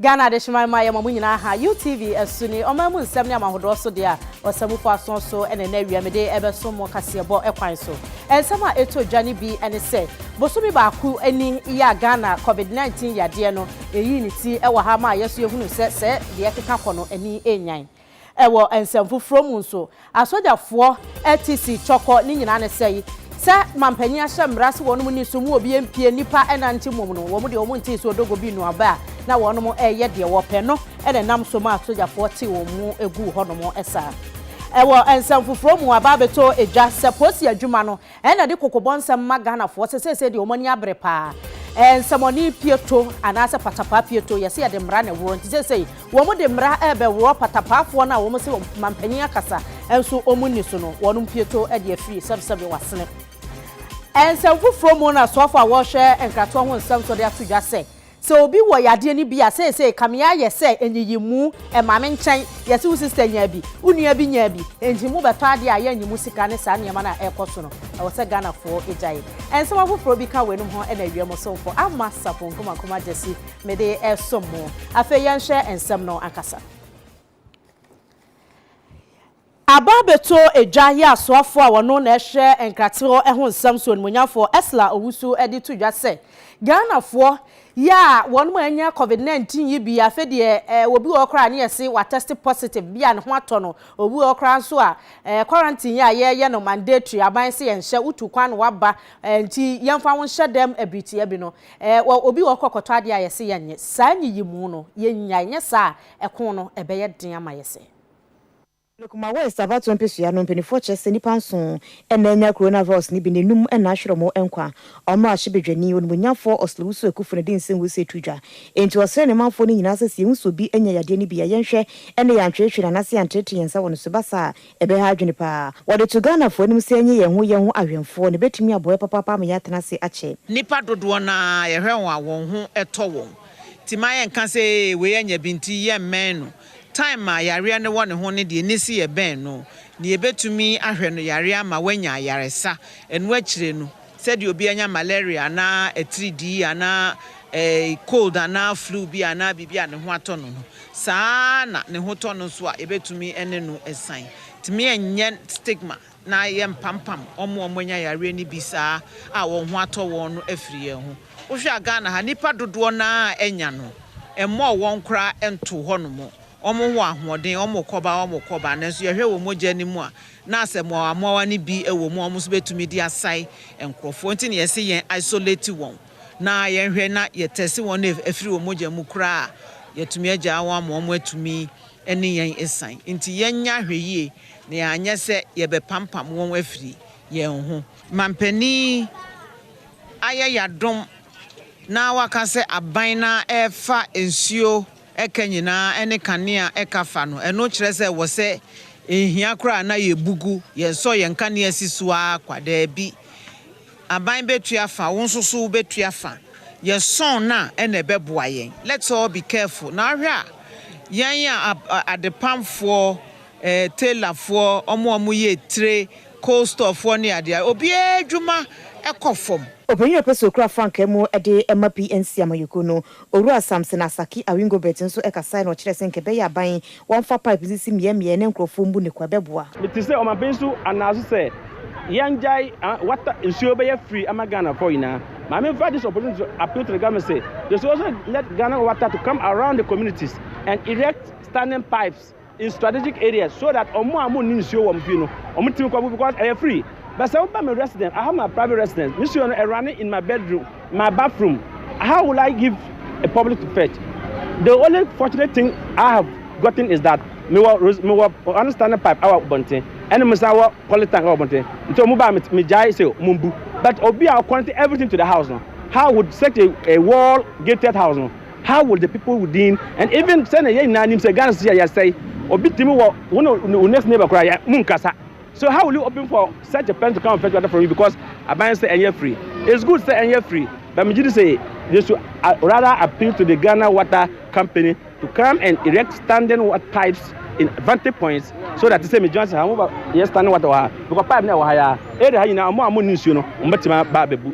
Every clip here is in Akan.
Ghana adehyeman ma yɛma mo nyinaa ha, UTV, asu ne ɔman mu nsɛm ne amahodoɔ so deɛ a ɔsamufo asoɔ so na ɛnɛ awia mede rebɛsom mo kaseɛbɔ kwan so. Nsɛm a ɛtɔ dwa no bi ne sɛ, bosome baako ni yi a Ghana Covid 19 yadeɛ no yii ne ti wɔ ha maa yɛn nso yɛhunuu sɛ sɛ deɛ ɛkeka kɔ no ani nnyan. Wɔ nsɛm foforɔ mu nso, asogyafoɔ ti si cɔkɔ ne nyinaa ne sɛi, sɛ manpanyin ahyɛ mmara se wɔnom nni so mu obi mpie nnipa nnante mmom no, wɔnom deɛ wɔn ntee se odogo bi nua bɛ a, na wɔnom reyɛ deɛ wɔpɛ no na ɛnam so ma asogyafoɔ te wɔn mu guu hɔnom saa. Wɔ nsɛm foforɔ mu, aba abɛtɔ dwa sɛ posi adwuma no Ɛna de kɔkɔbɔ nsɛm ma Ghanafoɔ sɛ seesei deɛ wɔn ani abere paa. Nsɛmɔne pieto anaasɛ patapaa pieto, yɛse yɛde mmara na ɛworɔ nti seesei wɔn de mmara rebɛworɔ patapaafoɔ no a wɔn se mampanin akasa nso wɔn nni so no, wɔn pieto de afiri sɛbesɛbe wɔasene. Nsɛm foforɔ mu na soafoɔ a wɔrehwɛ nkratoɔ ho nsɛm nso de ato dwa sɛ, Sɛ obi wɔ yadeɛ no bi a seesei kame ayɛ sɛ nyiyimu, ɛma me nkyɛn, yɛse wo sister nyaa bi, wo nua bi nyaa bi, enti mo bɛtɔ adeɛ a yɛnnye mo sika ne saa nneɛma no a ɛrekɔ so no, ɛwɔ sɛ Ghanafoɔ gyae. Nsɛm afoforɔ bi ka weinom ho na awie mo somfo Amma Sarpong Nkrumah Nkrumah Gyasi mede resom mo. Afei yɛnhwɛ nsɛm no ankasa. Aba abɛtɔ dwa yɛ asoafoɔ a wɔno na ɛhwɛ nkratee hɔ ho nsɛm so animuonyamfoɔ Ursula Owusu de to dwa sɛ, Ghanafoɔ yɛ a wɔn mo anya covid 19 yi bi, afei deɛ eh, obi wɔ hɔ koraa a ne yɛse watɛste positive, bi a ne ho atɔ no, obi wɔ hɔ koraa nso a eh, quarantine yi a yɛyɛ no mandatory, aban se yɛnhyɛ, wotu kwan na waba eh, nti yɛmfa wo nhyɛ dɛm ɛbiri tia bi no, eh, wɔ, obi wɔ hɔ kɔkɔtɔ adeɛ a yɛse yɛnye, saa nyiyimu no yɛnyae, nyɛ saa a ɛko no ɛbɛyɛ den ama yɛse. Wɔ Kumawest abatoɔ mpesua no, mpaninfoɔ kyerɛ sɛ nnipa nson na anya coronavirus no bi na nnum na ahwere wɔn nkwa. Wɔn mmarahyɛbadwani, Onimuonyanfoɔ Oslo Wusu Ekufo no de nsɛm wei sɛ ɛto dwa, Enti ɔsrɛ ne manfoɔ no nyinaa sɛ sɛ yɛhu sɛ obi anya yadeɛ no bi a, yɛnhwɛ na yɛantweetwee no anaasɛ yɛanteetee yɛn nsa wɔ no so, ɛba saa a, ɛbɛha adwene pa ara. Wɔde to Ghanafoɔ anim sɛ yɛnyɛ yɛn ho yɛn ho awɛmfoɔ na ɛbɛtumi aboa yɛn papaapa ama yɛatena ase akyɛ. Nnipa dodoɔ no ara, yɛhwɛ wɔn a, wɔn ho tɔ wɔn. Enti mma yɛnka sɛ ee wei anya bi nti yɛmmɛn no. Time a yareɛ no wɔ ne ho no deɛ nisi yɛ bɛn no, deɛ yɛbɛtumi ahwɛ no yareɛ ama wanya ayaresa, ɛno akyire no sɛdeɛ obi anya malaria anaa atiridii anaa cold anaa flu bi anaa biribi a ne ho atɔ no no, saa ara na ne ho tɔ no nso a yɛbɛtumi ne no san. Tumi ɛnyɛ stigma. na yɛmpampam wɔn a wɔanya yareɛ no bi saa a wɔn ho atɔ wɔn no afiri yɛn ho. Wohwɛ a Ghana ha, nnipa dodoɔ no ara a anya no, ɛmmɔɔ wɔn koraa ntoo hɔnom. Wɔwɔ ahoɔden, wɔkɔ ba, wɔkɔ ba, nanso yɛhwɛ wɔn mogya no mu a, na asɛ mmoawammoawa no bi wɔ mu a wɔn nso bɛtumi de asae nkurɔfoɔ. Nti na yɛse yɛn isolate wɔn na yɛnhwɛ na yɛtɛse wɔn na afiri wɔn mogya mu koraa a, yɛatumi agyaa wɔn ama wɔatumi ne yɛn asiane nti, yɛnyɛ ahwɛyie na yɛanyɛ sɛ yɛbɛpampam wɔn afiri yɛn ho. Mampanin yi ayɛ yɛadom na waka sɛ aban no ara refa nsuo ɛka nyinaa ne kanea ɛka fa no, ɛno kyerɛ sɛ wɔ sɛ ɛnhia koraa na yɛbugu, yɛnsɔ yɛn kanea si so ara kwa, daabi. Aban bɛtua fa, wo nso so wobɛtua fa. Yɛ sɔn no a ɛna ɛbɛboa yɛn. Let's all be careful. Na wohwɛ a, yɛn a adepamfoɔ, tailorfoɔ, wɔn a wɔyɛ tire, coal storefoɔ ne adeɛ a, obiara adwuma kɔ fam. Ɔpanyin a ɔpɛ sɛ ɔkura frankaa mu de ma PNC amanyɔkuo no, Owura Samson Asaki Awingo-Bett nso ɛkasae na ɔkyerɛɛ sɛ nka ɛbɛyɛ a ban wɔnfa pipe nsisi mmeaɛ mmeaɛ na nkurɔfoɔ mbu ne kwa, ɛbɛboa. Mete sɛ ɔmampanin nso anaa so sɛ yɛngyae ah water nsuo bɛyɛ free ama Ghana foɔ nyinaa. Maame nfa this opportunity to appeal to the government sɛ they should also let Ghana water to come around the communities and erect standing pipes. in strategic areas so that ọmọ a mo ni nsuo wọm fie no ọmọ timi kọ bu because ẹyẹ free but sẹ woba me resident I have my private residence me suo no ẹrane in my bedroom my bathroom how will I give a public to fetch the only fortunate thing I have gotten is that me wọ me wọ one standing pipe ẹwọ bọnten ẹni mo san wọ poly tank ẹwọ bọnten nti ọmọ ba me gyae sẹ ọmọ mbu but obi a ọkọnte everything to the house no how would such a, a wall gated house no How will the people within and even sɛnea yɛn nyinaa nim sɛ Ghana sisi a yɛsɛe obi tumi wɔ wo ne wo next neighbor koraa yɛ mu nkasa so how will you open for such a person to come and fetch water from you because aban sɛ ɛnyɛ free it's good sɛ ɛnyɛ free but megye di sɛ they should uh, rather appeal to the Ghana water company to come and erect standing water pipes in vantage points so that sɛ medwuma sɛ ha mo ba yɛ standing water wɔ ha because pipe na ɛwɔ ha yɛ a ɛde ha nyinaa ɔmo a mo ne nsuo no ɔmo bɛtumi aba abɛbu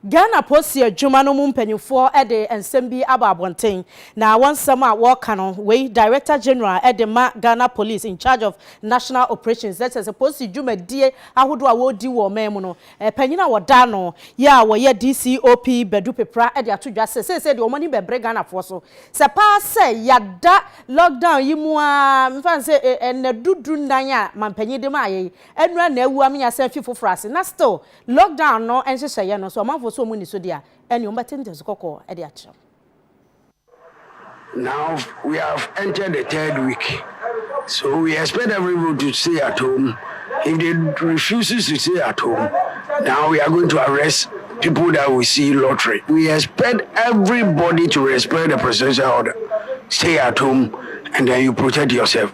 Ghana Post adwuma no mu mpanyimfoɔ de nsɛm bi abɔ abɔnten, na wɔn nsɛm a wɔreka no, wei Director General de ma Ghana Police in charge of National Operations, na kyerɛ sɛ polisi dwumadie ahodoɔ a wɔredi wɔ ɔman mu no, panyin a wɔda ano yɛ a wɔyɛ DCOP Badu Pepra de ato dwa sɛ seesei deɛ wɔn ani bɛbere Ghanafoɔ so sɛ paa sɛ yɛada lockdown yi mu ara mfa no sɛ ɛnnadu du nnan a manpanyin de maaeɛ yi nnura na awu ama yɛasan afi foforɔ ase na still Lockdown no nhyehyɛeɛ no, sɛ ɔmanfoɔ so wɔn nni so deɛ a, ɛnneɛ wɔbɛte nteaso kɔkɔɔ de akyerɛ wo. Now we have entered the third week so we expect everybody to stay at home if they refuses to stay at home now we are going to arrest people that we see lottery we expect everybody to respect the presidential order stay at home and then you protect yourself.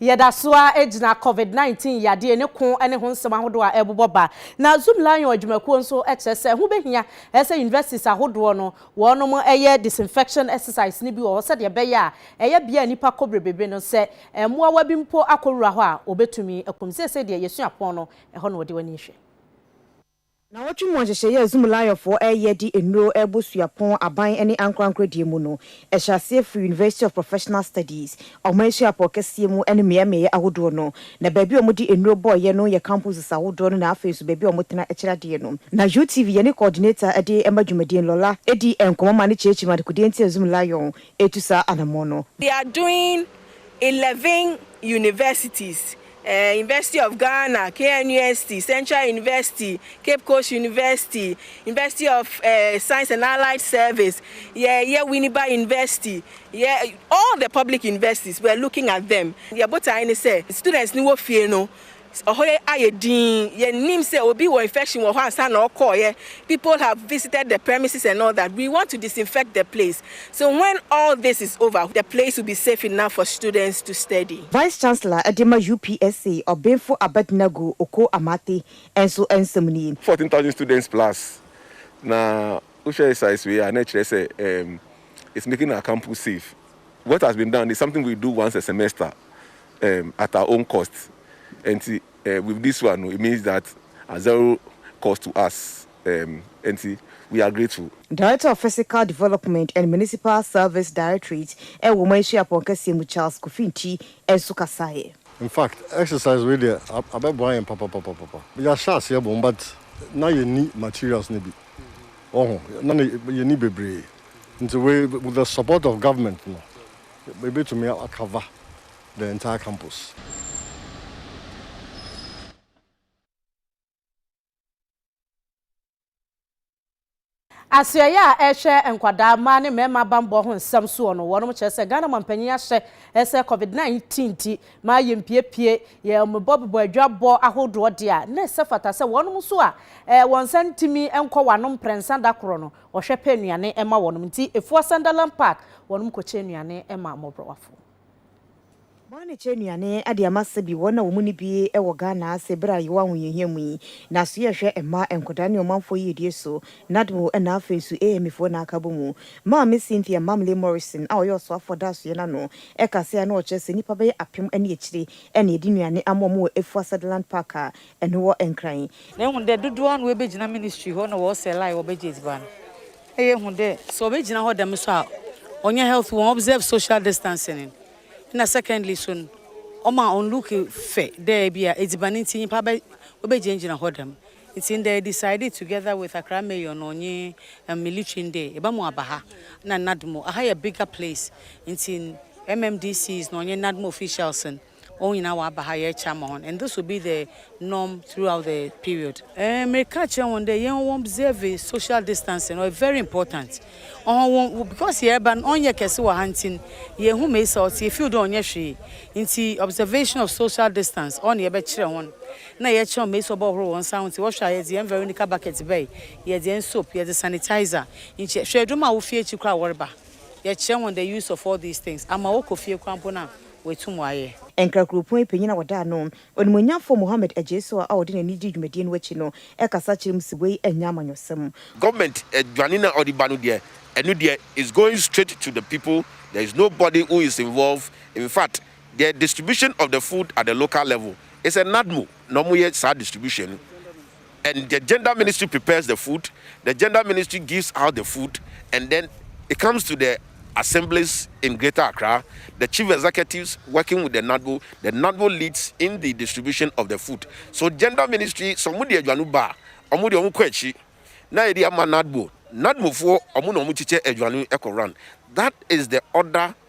Yɛda so ara gyina Covid nineteen yadeɛ ne ko ne ho nsɛm ahodoɔ a ɛrebobɔ ba. Na Zoomlion adwumakuo nso kyerɛ sɛ ɛho bɛhia sɛ universities ahodoɔ no wɔnom yɛ disinfection exercise no bi wɔ hɔ sɛdeɛ ɛbɛyɛ a ɛyɛ bea a nnipa kɔ brebrebere no sɛ mmoawa bi mpo akɔwura hɔ a wɔbɛtumi akum. Seesei deɛ yɛsua pɔn no, ɛhɔ na wɔde w'ani hwɛ. Nnawɔtwe mu nhyehyɛeɛ a Zumulawiyɔfoɔ reyɛ de nnuro rebɔ suapɔn aban ne ankorankoro deɛ mu no, ɛhyɛ aseɛ firi University of Professional Studies, ɔman asuapɔn kɛseɛ mu ne mmeaemmeaeɛ ahodoɔ no. Na baabi a wɔde nnuro bɔeɛ no yɛ campuses ahodoɔ no na afei nso baabi a wɔtena kyerɛ adeɛ no. Na UTV, yɛne coordinator de ma dwumadie no, Lola, di nkɔmmɔ ma no kyerɛkyerɛ mu adekodeɛ nti a Zumulawiyon retu saa anammɔn no. They are doing eleven universities University of Ghana, KNUST, Central University, Cape Coast University, University of uh, Science and Allied Service, yeah, yeah, Winneba University, yeah, all the public universities, we're looking at them. Yeah, but I say, students ni wo fie no, ɔhɔ yɛ ayɛ din yɛnim sɛ obi wɔ infection wɔ hɔ ansa na ɔkɔɔyɛ people have visited the premises and all that we want to disinfect the place So when all this is over the place will be safe enough for students to study? Vice Chancellor de ma UPSA ɔbenfo Abednego Okoh Amartey nso nsɛm nie. Fourteen thousand students plus na wo hwɛ size wei a na ɛkyerɛ sɛ ɛɛm it's making our campus safe what has been done is something we do once a semester ɛɛm at our own cost ɛnti ɛɛ with this one no it means that at zero cost to us. um enti we are grateful. Director of Physical Development and Municipal Service Directorate wɔ Ɔman Suapɔn kɛseɛ mu Charles Kofi Nti nso kasaeɛ. In fact exercise wei deɛ abɛboa yɛn papapapapa. Yɛahyɛ aseɛ bom but na yɛnni materials no bi woahu, na yɛnni bebree nti wei with the support of government no yɛbɛtumi a cover the entire campus. Asoɛeɛ a ɛrehwɛ nkwadaa, mmaa ne mmarima bammɔ ho nsɛm soɔ no, wɔnom kyerɛ sɛ Ghana manpanyin ahyɛ sɛ Covid 19 nti ma yɛmpiepie yɛn mebɔ bobɔ adwabɔ ahodoɔ deɛ a, na ɛsɛ fata sɛ wɔnom nso a wɔn nsa ntumi nkɔ wɔanom mprɛnsa da korɔ no, wɔhwɛ pɛ nnuane ma wɔnom. Nti Efuo Asandalam Park, wɔnom kɔkyɛ nnuane ma mmɔborɔwafoɔ. Bɔanekyɛ nnuane de ama sɛ bi wɔn na wɔn ni bi wɔ Ghana ase bere a yɛwɔ ahohiahia mu yi. Na so yɛhwɛ mma, nkwadaa ne ɔmanfoɔ yiedie so, NADMO na afei nso AME foɔ na aka bɔ mu. Maame Cynthia Mamle Morrison a ɔyɛ ɔsoafoɔ dasoyɛ no ano ka sɛ ano ɔkyerɛ sɛ nnipa bɛyɛ apem ne akyire na yɛde nnuane ama wɔn wɔ Efua Sutherland Park a ɛno wɔ Nkran. Na ɛhu dɛ dodoɔ ano ɛbɛgyina ministry hɔ na wɔɔsɛl a wɔbɛgye adziban. Ɛyɛ hu dɛ sɛ obegyina hɔ dɛm so a ɔnnyɛ healthy, won observe social distancing no, nna secondly so no ɔma on look fɛ dɛ bi a edziban ntsi nyimpa bɛ obegyinagyina hɔ dɛm. Ntsi ndɛ yedecide together with Accra Mayor no nye military no dɛ yɛbɛma ɔaba ha na NADMO, aha yɛ bigger place ntsi mmdcs no ɔnye NADMO officials no, wɔn nyinaa wɔaba ha yɛrekyama hɔn and this will be the norm throughout the period. Ɛɛ mereka akyerɛ hɔn dɛ yɛn wɔ observe social distancing ɔyɛ very important ɔhɔn wɔ because yɛreba no ɔnyɛ kɛse wɔ ha ntsi no yehu Mesa ɔtse yɛ feel dɛ ɔnyɛ hwee ntsi observation of social distance ɔno na yɛbɛkyerɛ hɔn na yɛkyerɛ hɔn Mesa ɔbɔhohor hɔn nsa ho ntsi wɔhwɛ a yɛdze hɛn Veronica bucket bae yɛdze hɛn soap yɛdze sanitizer nkyɛ hwɛ edwom a wofi ekyir koraa wɔreba yɛkyerɛ hɔn the use of all these things ama wɔkɔ fie koraa mpo no a Watum ayɛ. Nkra kuropɔn yi panyin a wɔda ano, Onimuonyamfo Mohammed Agyesoa a ɔde n'ani dii dwumadie no akyi no kasa kyerɛ mu se wei nyɛ amanyɔsɛm. Government aduane no a ɔde ba no deɛ, ɛno deɛ it's going straight to the people, there is nobody who is involved, infact the distribution of the food at the local level, it's a NADMO na wɔyɛ saa distribution no. And the gender ministry prepares the food, the gender ministry gives out the food and then it comes to the assemblies in Greater Accra, the chief executives working with the NADWO, the NADWO leads in the distribution of the food. So gender ministry sɛ ɔmo de aduane ba a, ɔmo de ɔmo kɔ akyi na yɛde ama NADWO, NADWOfoɔ ɔmo na ɔmo kyekyɛ aduane kɔ run. That is the order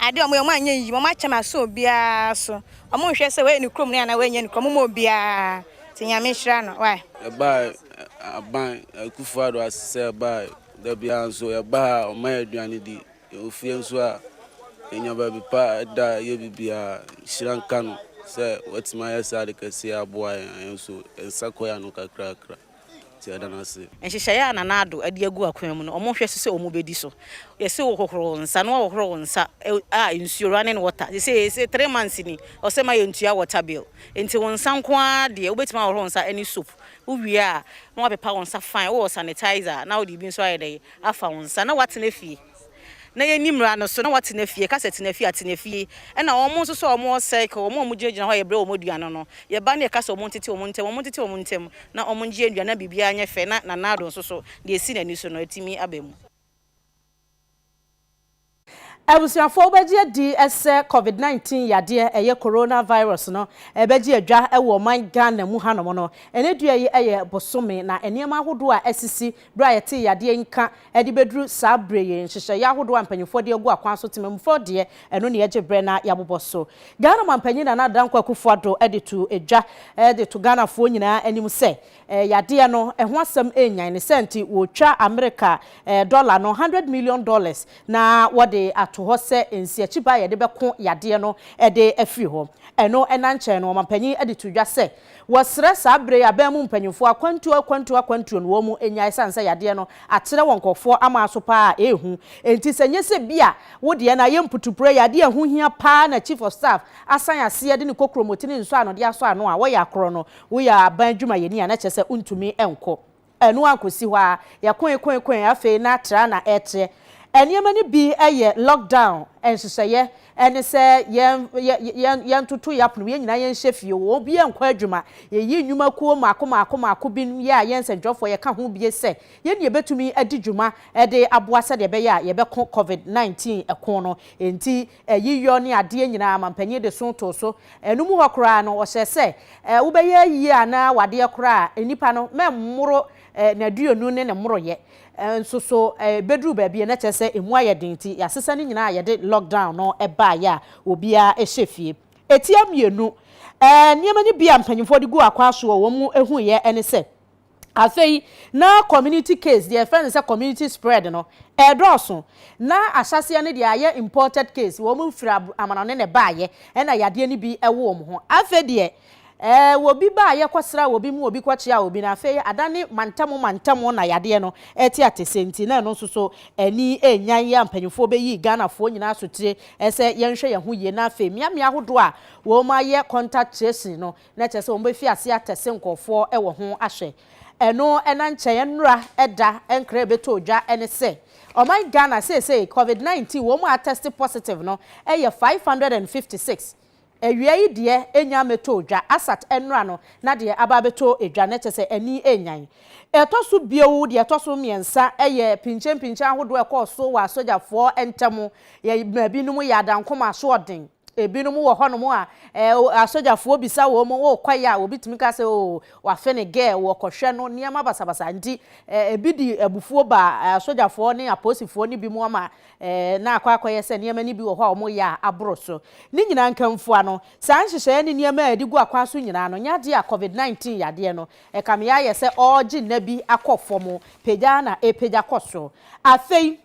Ade a wɔyɛ, wɔanyɛ yiye, wɔakyɛ me asɔ obiara so, wɔnhwɛ sɛ wayɛ ne kurom no anaa wanyɛ ne kurom, wɔmma obiara, nti Nyame nhyira no wai. Yɛbae aban Akufo Addo ase sɛ yɛbae da biara nso yɛba ha a ɔma yɛ aduane di yɛwɔ fie nso a yɛnya baabi pa da yɛ biribiara nhyira nka no sɛ watumi ayɛ saa ade kɛseɛ aboa yɛn a yɛn nso yɛn nsa kɔ yɛ ano kakrakra. nti yɛda no ase. Nhyehyɛeɛ a Nana Addo de agu akwan mu no, wɔhwɛ so sɛ wɔbɛdi so. Yɛse wo hohoro wo nsa na woahohoro wo nsa a nsuo, running water, sesei se three months ni ɔsɛ ma yɛntua water bill. Nti wo nsa nko ara deɛ wobɛtumi ahohoro wo nsa ne soap. Wowie a na woapepa wo nsa fine, wowɔ sanitizer a na wode bi nso ayɛ dɛn afa wo nsa na woatena fie. na yɛnni mmara no so na wɔatena fie, ka sɛ tena fie a, tena fie, ɛna wɔn nso so a wɔwɔ circle, wɔn a wɔgyinagyina hɔ a yɛbrɛ wɔn aduane no, yɛba na yɛka sɛ wɔntete wɔn ntam, wɔntete wɔn ntam na wɔngye aduane na biribiara nyɛ fɛ na Nanado nso so deɛ ɛsi n'ani so no atumi aba mu. Abusuafoɔ wobɛgye adi sɛ covid 19 yadeɛ ɛyɛ corona virus no ɛbɛgye adwa wɔ ɔman Ghana mu hanom no, ɛnɛ dua yi yɛ bosome na nneɛma ahodoɔ a asisi Bere a yɛtee yadeɛ nka de bɛduru saa berɛ yi, nhyehyɛeɛ ahodoɔ a mpanimfoɔ de agu akwan so, temammufoɔ deɛ, ɛno na yɛgye berɛ na yɛabobɔ so. Ghana manpanin Nana Dankwa Akufo-Addo de too dwa de to Ghanafoɔ nyinaa anim sɛ, yadeɛ no, ɛho asɛm renyan, ne saa nti, wɔretwa Amerika dɔla no, hundred million dollars, na wɔde ato hɔ sɛ nsiakyiba a yɛde bɛko yadeɛ no de afiri hɔ. Ɛno nankyɛn no, ɔmanpanin de too dwa sɛ, Wɔsrɛ saa berɛ yi aban mu mpanyimfoɔ akwantuo akwantuo akwantuo no wɔn mu nnyae ɛsiane sɛ yadeɛ no akyerɛ wɔ nkorɔfoɔ amaa so paa a ɛrehu nti sɛ nyɛ sɛ bi a wo deɛ no ayɛ mputuprɛ yɛ adeɛ a ɛho hia paa na Chief of Staff asan aseɛ de ne kokromoti ne nsɔano de asɔ ano a wɔyɛ akorɔ no woyɛ aban adwumayɛni a na kyerɛ sɛ wontumi nkɔ Ɛno ankɔsi hɔ ara, yɛkoekoekoe afei na tra na ɛreteɛ. Nneɛma no bi yɛ lockdown nhyehyɛeɛ, ɛne sɛ yɛn yɛn yɛntoto yɛn apono mu, yɛn nyinaa yɛnhyɛ fie, obiara nnkɔ adwuma, yɛyi nnwuma kuo mmaako mmaako mmaako, binom yɛ a yɛn nsɛntwerɛfoɔ yɛka ho bie sɛ yɛn ne yɛbɛtumi adi dwuma de aboa sɛdeɛ ɛbɛyɛ a yɛbɛko Covid 19 ko no, enti ayiyɔ ne adeɛ nyinaa ma mpanin de so too so. Ɛno mu hɔ koraa no, ɔhyɛɛ sɛ, eh, wobɛyɛ ayiyɛ anaa wadeɛ koraa a, nnipa no, mɛmmoro eh, n'aduonu ne ne mmoroyɛ. Eh, nso so eh, bɛduru baabi a na kyerɛ sɛ ɛmu ayɛ den nti, yɛasesa ne nyinaa a yɛde lockdown no baeɛ a obiara hyɛ fie. Ɛtia mmienu. Eh, nneɛma no bi a mpanimfoɔ de gu akwaa so a wɔhuiɛ ne sɛ, Afei, na community case, deɛ yɛfrɛ no sɛ community spread no, ɛredɔɔso. Na ahyɛaseɛ no deɛ ayɛ imported case, wɔn firi ab, amanɔne na ɛbaeɛ, ɛna yadeɛ no bi wɔ wɔn ho. Afei deɛ, ɛɛ, obi baeɛ kɔsraa obi mu, obi kɔkyeaa obi, na afei adane mantam mantam na yadeɛ no ɛte atese, nti na ɛno nso so ani nnyae a mpanimfoɔ bɛyii Ghanafoɔ nyinaa sotire sɛ yɛnhwɛ yɛn ho yie, na afei mmeammea ahodoɔ a wɔayɛ contact tracing no, na kyerɛ sɛ wɔbɛfi aseɛ atɛse nkurɔfoɔ wɔ ho ahwɛ. Ɛno na nkyɛn nnora da nkra rebɛtɔ dwa ne sɛ, ɔman Ghana seesei Covid 19 wɔn a atɛste positive no yɛ 556. Awia yi deɛ ɛnnya mmɛtɔɔ dwa, asat nnora no na deɛ aba abɛtɔ dwa, na kyerɛ sɛ ani renyan. Ɛtɔ so bio, deɛ ɛtɔ so mmiɛnsa yɛ pinkyenpinkyen ahodoɔ a ɛkɔɔ so wɔ asogyafoɔ ntam, yɛ maa binom yɛ adankoma asoɔden. Ebinom wɔ hɔnom a, eh, o, asogyafoɔ bisa wɔn, wokɔ yɛ a, obi tumi ka sɛ, oh, wafe ne girl, wɔkɔhwɛ no, nneɛma basabasa nti, eh, ebi de abufuo ba eh, asogyafoɔ ne apolisifoɔ no bi mu ama, eh, na akɔ akɔyɛ sɛ nneɛma no bi wɔ hɔ a wɔyɛ a aboro so. Ne nyinaa nkamfua no, saa nhyehyɛeɛ ne nneɛma a yɛde gu akwan so nyinaa no nyɛ adeɛ a Covid 19 yadeɛ no ɛkame ayɛ sɛ ɔregye nna bi akɔ fam pagya na ɛrepagya kɔ so. Afei,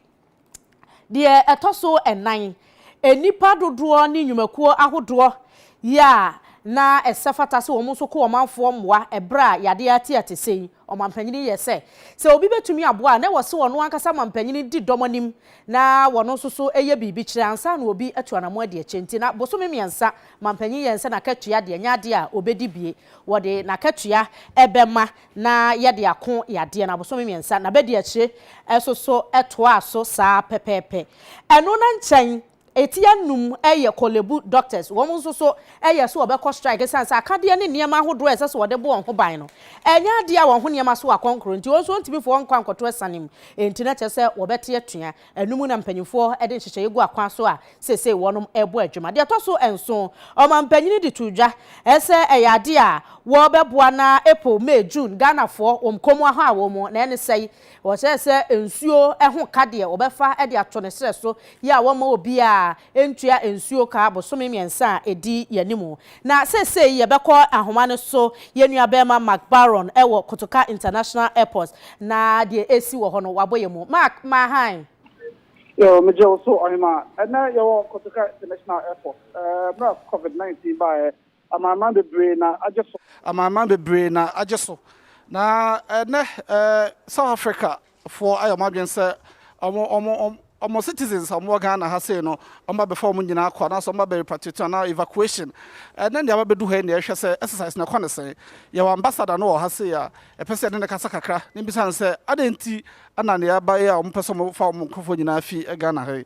Deɛ ɛtɔ so nnan, nnipa dodoɔ ne nnwumakuo ahodoɔ yi a na ɛsɛ fata sɛ wɔn nso ko ɔmanfoɔ mmoa ɛberɛ a yadeɛ atia te sei. Ɔmampanin yɛ sɛ, sɛ obi bɛtumi aboa a, na ɛwɔ sɛ ɔno ankasa mampanin di dɔm anim na wɔno nso so yɛ biribi kyerɛ ansa na obi atu anamɔn adi akyire. Nti na bosome mmiɛnsa mampanin yɛ sɛ n'akatua deɛ, ɛnyɛ adeɛ a ɔbɛdi bie. Wɔde n'akatua bɛma na yɛde ako yadeɛ no abosome mmiɛnsa, n'abadiakyire nso so toaa so saa pɛpɛɛpɛ. Ɛno no nkyɛn, eti anum yɛ Korlebu doctors, wɔn nso so yɛɛ sɛ wɔbɛkɔ strike ɛsiane sɛ akadeɛ ne nneɛma ahodoɔ a ɛsɛ sɛ wɔde bɔ wɔn ho ban no, ɛnyɛ adeɛ a wɔn ho nneɛma so akɔnkoro nti, wɔn nso wɔntumi mfa wɔn nkɔ ankɔto asiane mu, enti na kyerɛ sɛ wɔbɛte atua. Ɛno mu na mpanimfoɔ de nhyehyɛeɛ gu akwan so a seesei wɔrebɔ adwuma. Deɛ ɛtɔ so nson, ɔmampanin de too dwa sɛ ɛyɛ adeɛ a wɔbɛboa na April, May, June Ghanafoɔ wɔn kɔn mu ahɔ a wɔn na ɛne sɛe. Wɔhyɛɛ sɛ nsuo ho ka deɛ wɔbɛfa de ato ne serɛ so yɛ a wɔmma obiara ntua nsuo ka bosome mmiɛnsa a ɛdi yɛn anim. Na seesei yɛbɛkɔ ahoma no so, yɛn nuabarima Mark Barron wɔ Kotoka International Airport, na deɛ ɛresi wɔ hɔ no, wabɔ yɛn mu. Mark, ma hann. Yo, megye wo so, Ɔhemaa. Ɛnnɛ yɛwɔ Kotoka International Airport. Mmerɛ a Covid 19 baeɛ Amanaman bebree na agye so. Amanaman bebree na agye so. Na ɛnnɛ South Africa foɔ ayɛ wɔn adwene sɛ wɔn wɔn citizens a wɔn wɔ Ghana ha sei no wɔn ba bɛfa wɔn nyinaa kɔ anaasɛ wɔn ba bɛ repatriate anaa evacuation. Ɛnnɛ nea wabɛdu ha yi na yɛhwɛ sɛ exercise no ɛkɔ no sɛn. Yɛwɔ ambassador no wɔ ha sei a yɛpɛ sɛ yɛne no kasa kakra na yɛbisa no sɛ adɛn nti na nea ɛba yi a wɔpɛ sɛ wɔfa wɔn nkorɔfoɔ nyinaa fi Ghana ha yi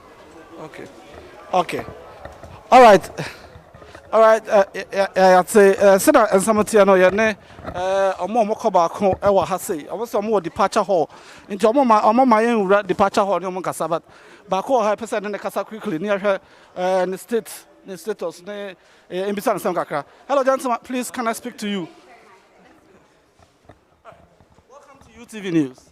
Okay. Okay. All right. All right. Uh, yeah, yeah, yeah. Say, uh, say that and some tia no yeah ne. Uh, omo omo ko ba ko e wa ha say. Omo say omo departure hall. Nti omo ma omo ma yen wura departure hall ne omo kasa but ba ko ha pese ne kasa quickly ne hwe uh, ne state ne status ne eh, imbisa nsem kakra. Hello gentlemen, please can I speak to you? Welcome to UTV News.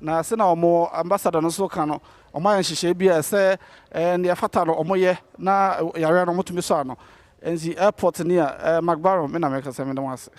Na sɛnea wɔn ambassador no nso ka no, wɔayɛ nhyehyɛe bi a ɛsɛ nea ɛfata no wɔyɛ na yare no wɔtumi sɔ ano. Nti airport ni a, McBaron, me na mekasa, meda mo ase.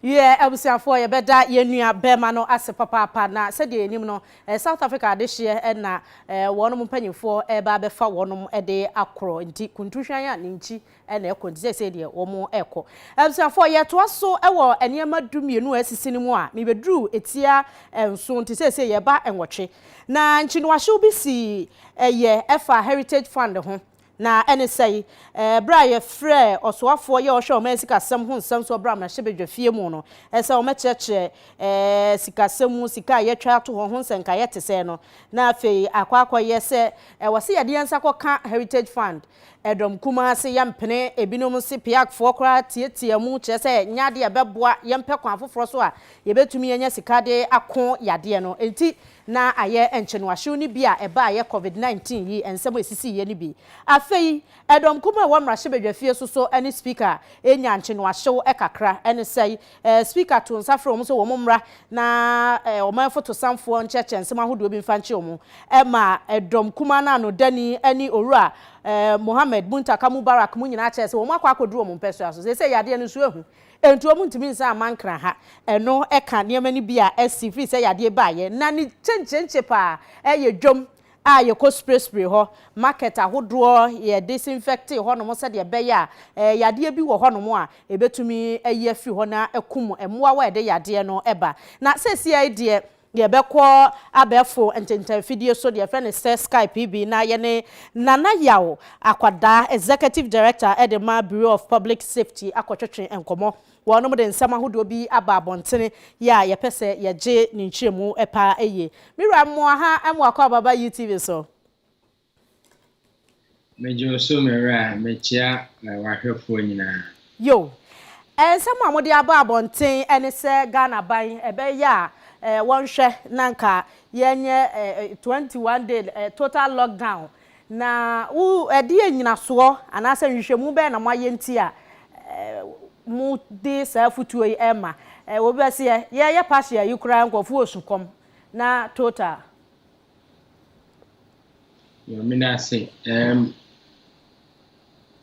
Wiɛ, abusuafoɔ, yɛbɛda yɛn nua bɛrima no ase papaapa na sɛdeɛ yɛnim no, eh, South Africa adehyeɛ eh, na eh, wɔn mpanyinfoɔ ɛreba eh, abɛfa wɔn eh, de akorɔ nti kuntu hwan a ne nkyi na ɛkɔ nti seesei deɛ wɔrekɔ. Abusuafoɔ, yɛtoa so wɔ nneɛma du mmienu a asisi no mu a mebɛduruu ɛtia nson nti seesei yɛreba nwɔtwe. Na nkyinoahyew bi sii yɛ ɛfa Heritage Fund ho na ɛne sɛi, Berɛ a yɛfrɛɛ ɔsoafoɔ yɛ ɔhwɛ ɔman sikasɛm ho nsɛmsoɔ berɛ a mahyɛ badwafie mu no sɛ wɔmɛkyerɛkyerɛ sikasɛm mu sika a yɛatwa ato hɔ ho nsɛnkaeɛ tesɛɛ no na afei akɔ akɔyɛ sɛ wɔse yɛde yɛn nsa kɔka Heritage Fund Ɛdɔm kumaa se yɛmpene ebinom se peakfoɔ koraa tiatia mu kyerɛ sɛ nyɛ adeɛ a ɛbɛboa yɛn pɛ kwan foforɔ so a yɛbɛtumi anya sika de ako yadeɛ no nti na ayɛ nkyenoahyew no bi a ɛbaeɛ covid 19 yi nsɛm a ɛsisiiɛ no bi. Afei ɛdɔm kumaa a ɛwɔ mmarahyɛbadwafie so so ne Speaker nyaa nkyenoahyew kakra ne sɛe Speaker too nsa frɛɛ wɔn sɛ wɔn mmra na ɔmanfo tosanfoɔ nkyerɛkyerɛ nsɛm ahodoɔ bi mfa nkyerɛ wɔn maa dɔm kumaa no anodani ne Owura Mohammed Muntaka Mubarak mu nyinaa kyerɛɛ sɛ wɔn akɔ akɔduru wɔn mpɛsoa so. Seesei yadeɛ no nso ahu enti wɔn ntumi nsan amma Nkran ha. Ɛno ka nneɛma no bi a asi firi sɛ yadeɛ baeɛ na ne kyenkyenkye paa yɛ dwam a yɛkɔ spray spray hɔ, market ahodoɔ yɛ disinfecte hɔnom sɛdeɛ ɛbɛyɛ a ɛɛ yadeɛ bi wɔ hɔnom a ɛbɛtumi ayi afiri hɔ na akum mmoawa a ɛde yadeɛ no ba. Na seesei yi deɛ yɛbɛkɔ abɛɛfo ntentan afidie so deɛ yɛfrɛ no sɛ Skype bi na yɛne Nana Yaw Akwadaa, Executive Director de ma Bureau of Public Safety akɔtwetwe nkɔmmɔ. Wɔnom de nsɛm ahodoɔ bi aba abɔntene yi a yɛpɛ sɛ yɛgye ne nkyerɛmu paa yie. Me wura mmoa ha mmoa kɔ Ababa UTV so. Megye wo so me wura, mekyea w'ahwɛfoɔ nyinaa. Yo. Nsɛm a mode aba abɔnten ne sɛ Ghana aban ɛbɛyɛ a wɔnhwɛ na nka yɛnyɛ 21 day total lockdown Na wo, ɛdeɛn nnyinasoɔ anaasɛ nhwehwɛmu bɛn na moayɛ nti a mode saa afotuo yi rema? Obi bɛseɛ, yɛreyɛ partial yi koraa nkorɔfoɔ wɔ sukɔm, na total. Nyame no ase erm.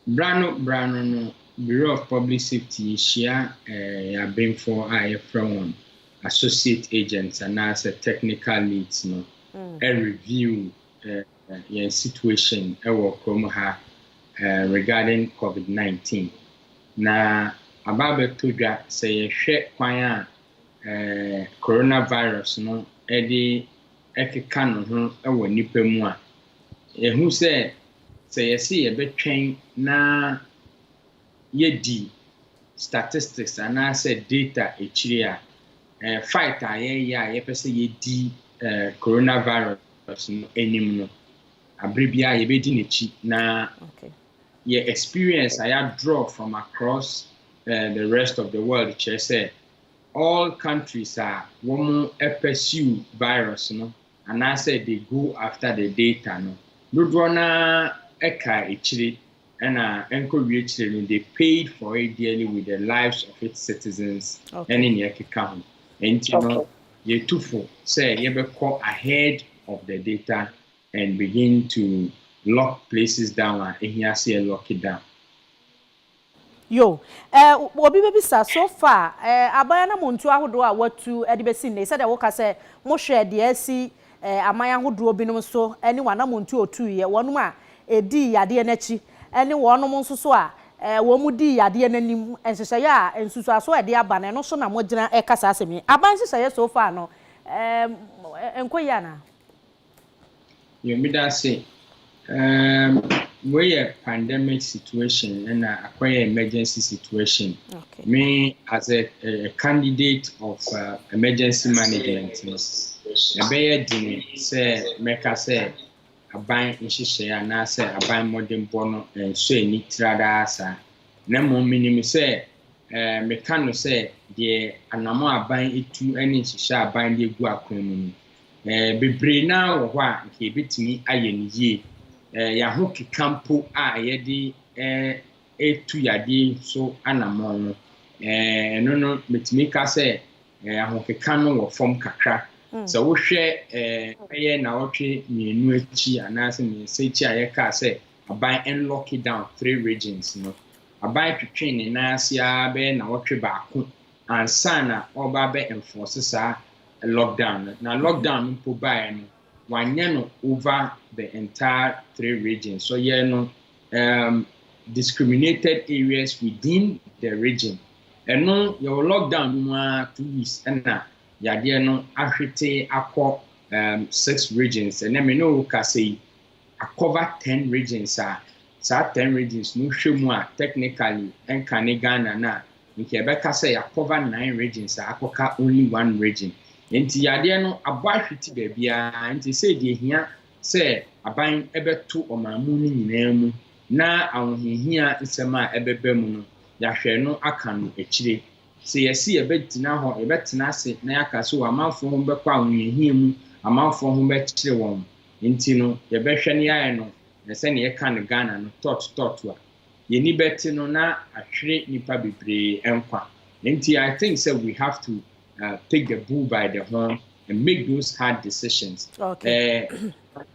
Bra no bra no no Bureau of Public Safety yɛhyia err yɛn abenfoɔ a yɛfrɛ wɔn Associate Agents anaasɛ Technical Leads no review eh, yɛn situation ɛwɔ kurom ha eh, regarding COVID-19. Na aba abɛtɔ dwa sɛ yɛhwɛ kwan a eh, coronavirus no ɛde ɛkeka ne ho ɛwɔ nnipa mu a, yɛhu sɛ sɛ yɛse yɛbɛtwɛn na yɛdi statistics anaasɛ data akyiri a, eh, fight a yɛyɛ a yɛpɛ sɛ yɛdi eh, coronavirus no anim no, abere biara yɛbɛdi n'akyi na okay. yɛ experience a yɛadraw from across uh, the rest of the world kyerɛ sɛ all countries a wɔn pursue virus no anaasɛ they go after the data no dodoɔ no ɛka akyire ɛna ɛnkɔ wiekyerɛ no they paid for it dearly with the lives of its citizens ɛne nea ɛkeka ho nti no yɛtu fo sɛ yɛbɛkɔ ahead of the data and begin to lock places down a ɛhia sɛ yɛ lock it down yo eh, obi bɛbisa so far eh, aban anamontuo ahodoɔ a watu de bɛsi nnei sɛdeɛ woka sɛ mohwɛ deɛ asi aman ahodoɔ binom so ne w'anamontuo a ɔtuiɛ, wɔnom a ɛdii yadeɛ no akyi ne wɔnom nso so a wɔn dii yadeɛ no anim, nhyehyɛeɛ a nsusuasoɔ a ɛde aba no, ɛno so na mogyina reka saa asɛm yi? Aban nhyehyɛeɛ so far no ɛnkɔ yie anaa? Yɛmeda ase Um wei yɛ pandemic situation ɛna akɔyɛ emergency situation. Okay. Me as a, a, a candidate of uh, emergency management no ɛbɛyɛ den sɛ mɛka sɛ aban nhyehyɛe anaasɛ aban mmɔdenbɔ no nso ani tradaa saa na mmom menim sɛ eh, meka no sɛ deɛ anamo aban etu ne nhyehyɛ aban de egu akwan mu no Bebree no ara wɔ hɔ a anka yebetumi ayɛ no yie. Yɛn ahokeka mpo a yɛde retu yadeɛ yi so anammɔn no, ɛno no, metumi ka sɛ ahokeka no wɔ fam kakra. Sɛ wohwɛ bɛyɛ nnawɔtwe mmienu akyi anaasɛ mmiɛnsa akyi a yɛkaa sɛ aban nlɔke down three regions no, aban twetwee ne nan ase ara bɛyɛ nnawɔtwe baako ansa na ɔreba abɛ enforce saa lockdown no, na lockdown no mpo baeɛ no, wanyɛ no over the entire three regions, ɔyɛɛ no um, discriminated areas within the region. Ɛno, yɛwɔ lockdown no mu ara two weeks ɛna yadeɛ no ahwete akɔ um, six regions. Ɛnɛ me ne wo kasa yi, akɔva ten regions a, saa ten regions no wohwɛ mu a technically ɛnka ne Ghana no a, nka yɛbɛka sɛ yɛakɔva nine regions a akɔka only one region. Enti yadeɛ no abɔ ahwete baabiara, enti sei deɛ ɛhia sɛ aban bɛto ɔman mu no nyinaa mu na ahohiahia nsɛm a ɛbɛba mu no yɛahwɛ no aka no akyire. Sɛ yɛse yɛbɛgyina hɔ, yɛbɛtena ase na yɛaka sɛ o amanfoɔ ho bɛkɔ ahohiahia mu, amanfoɔ ho bɛkyere wɔn Nti no yɛbɛhwɛ no yɛayɛ no na sɛnea yɛka no Ghana no tɔt tɔt a yɛni bɛte no na ahwere nipa bebree nkwa nti I think sɛ we have to take the bull by the horn and make those hard decisions.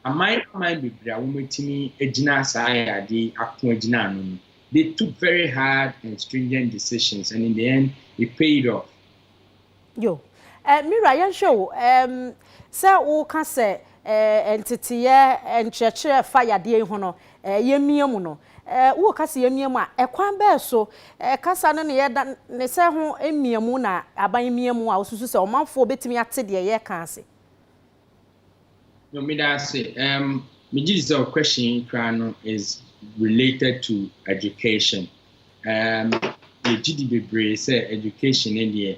Aman aman bebree a wɔatumi agyina saa yadeɛ yi ako agyina ano no they took very hard and stringent decisions and in the end it paid off. Yo. Eh, me wura, yɛnhwɛ o, eh, sɛ woka sɛ, eh, nteteeɛ eh, nkyerɛkyerɛ a ɛfa yadeɛ yi ho no, eh, yɛmmia mu no, eh, woka sɛ yɛmmia mu a, ɛkwan bɛɛ so, eh, kasa no ne yɛda ne sɛ ho mmiamu na aban mmia mu a wosusu sɛ ɔmanfoɔ bɛtumi ate deɛ yɛreka ase? No me da ase um me gye di sɛ o question yi koraa no is related to education um me gye di bebree sɛ education ne deɛ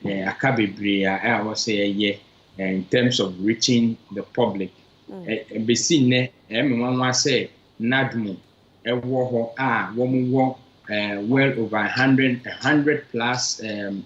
eh, aka bebree a eh, ɛwɔ sɛ yɛyɛ eh, in terms of reaching the public mm. eh, eh, besi nnɛ ɛmɛ eh, nwanwa sɛ nadmo ɛwɔ hɔ a wɔn wɔ eh, well over hundred hundred plus um,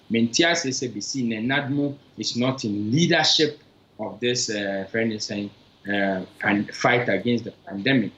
mente aseɛ sɛ bɛsi nɛ Nadmo is not in leadership of this uh, friend ne sɛn uh, fight against the pandemic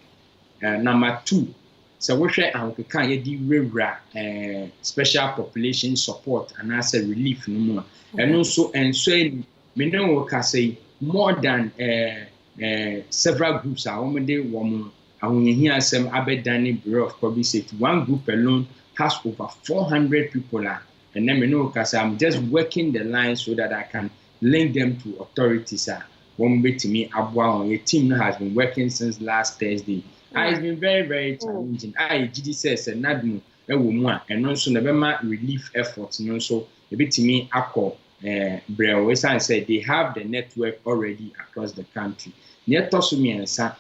uh, number two sɛ wohwɛ ahokeka a yɛde wurawura uh, special population support anaasɛ relief no mu a ɛno nso ɛnsɔ ani me ne wo kasa yi more than uh, uh, several groups a wɔde wɔn Ahohiahia asɛm abɛdane Bureau of Public Safety, one group alone has over 400 people a ɛnnɛ me ne wo kasa I'm just working the line so that I can link them to authorities a wɔn bɛtumi aboa wɔn. Yɛ team no has been working since last Thursday. Ah, it's been very very mm. challenging. A ah, yɛgye di sɛ sɛ NADMO wɔ mu a ɛno nso na ɛbɛma relief effort no nso ɛbɛtumi akɔ Eh, brɛw ɛsiane sɛ they have the network already across the country nea ɛtɔ so mmiɛnsa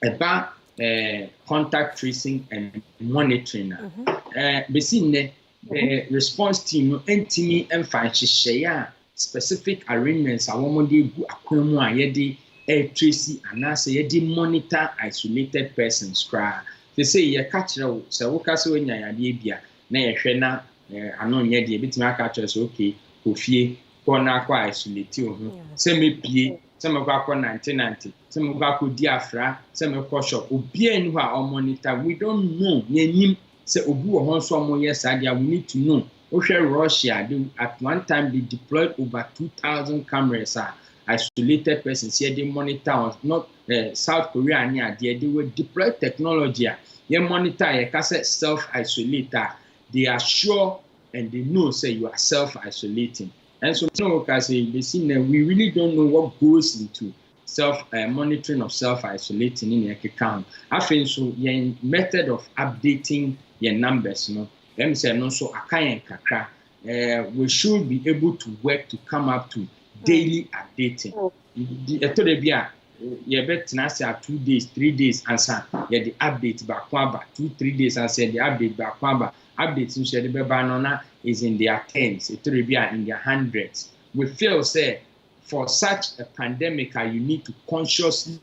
Ɛba ɛɛ contact tracing and monitoring a, mhm. ɛɛ besi nnɛ ɛɛ response team no ntumi mfa nhyehyɛeɛ a specific arrangements a wɔde egu akwan mu a yɛde ɛretresi anaasɛ yɛde monitor isolated persons koraa. Te sɛ yɛka kyerɛ wo sɛ woka sɛ woanya yadeɛ bi a na yɛhwɛ na eh, ano nyɛ deɛ ɛbɛtumi aka kyerɛ sɛ okay kɔ fie kɔ na akɔ isolate wo ho sɛ mepie sɛ mɛkɔ akɔ nante nante sɛ mɛkɔ akɔ di afra sɛ mɛkɔ shop obiara nni hɔ a ɔmo nita we don't know yɛn nim sɛ obi wɔ hɔ nso ɔmo yɛ saa deɛ we need to know wohwɛ Russia de at one time they deployed over two thousand cameras a isolated persons yɛ de monitor on not eh, South Korea ne adeɛ they were deployed technology a yɛ monitor a yɛka sɛ self isolate a they are sure and they know sɛ you are self isolating Nanso me ne wo rekasa yi, besi nnɛ we really don't know what goes into self eh, monitoring of self isolating ne nea ɛkeka ho. Afei nso yɛn method of updating yɛn numbers no, ɛm sɛ ɛno nso aka yɛn kakra. Eh, we should be able to work to come up to daily updating. Nti ɛtɔ da bi a yɛbɛtena ase a two days, three days ansa yɛde update baako aba, two, three days ansa yɛde update baako aba. Updates no so yɛde bɛba no na is in their tens, ɛtɔ da bi a in their hundreds. We feel sɛ for such a pandemic a you need to consciously,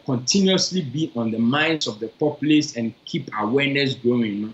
continuously be on the minds of the populace and keep awareness growing no,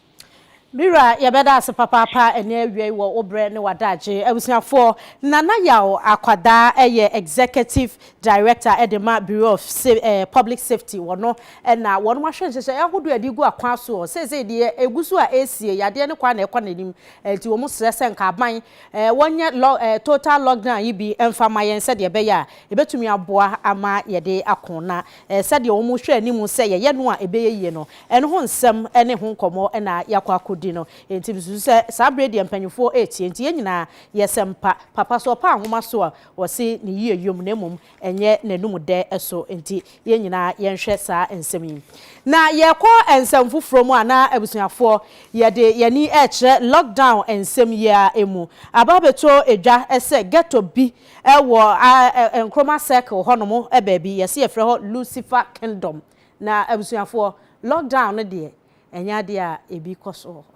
Me wura yɛbɛda ase papaapa ɛne awiei wɔ wo berɛ ne w'adagye. Abusuafoɔ, Nana Yaw Akwadaa yɛ Executive Director de ma Bureau of Public Safety wɔ no na wɔnom ahwɛ nhyehyɛeɛ ahodoɔ a yɛde regu akwan soɔ. Seesei deɛ ɛgu so a ɛresie, yadeɛ no kwan na ɛkɔ n'anim nti wɔn srɛ sɛ nka aban wɔnyɛ total lockdown yi bi mfa ma yɛn sɛdeɛ ɛbɛyɛ a ɛbɛtumi aboa ama yɛde ako na Ɛɛ, sɛdeɛ wɔhwɛ anim sɛ yɛyɛ no a ɛbɛyɛ yie no, ɛno ho nsɛm ne ho nkɔmmɔ na yɛakɔ akɔdi no. Enti mesusu sɛ saa berɛ yi deɛ mpanimfoɔ retie, enti yɛn nyinaa yɛsɛ mpa. Papa so ɔpaa nwoma so a, wɔse ne yie yom na mmom ɛnyɛ n'anom dɛ so, enti yɛn nyinaa yɛnhwɛ saa nsɛm yi. Na yɛrekɔ nsɛm foforɔ mu a, na abusuafoɔ, yɛde yɛn ani rekyerɛ lockdown nsɛm yi ara mu. Aba abɛtɔ dwa sɛ ghetto bi Wɔ Nkrumah Circle hɔnom baabi, yɛse yɛfrɛ hɔ Lucifer Kingdom. Na abusuafoɔ, lockdown no deɛ, ɛnyɛ adeɛ a ɛbi kɔ so wɔ hɔ.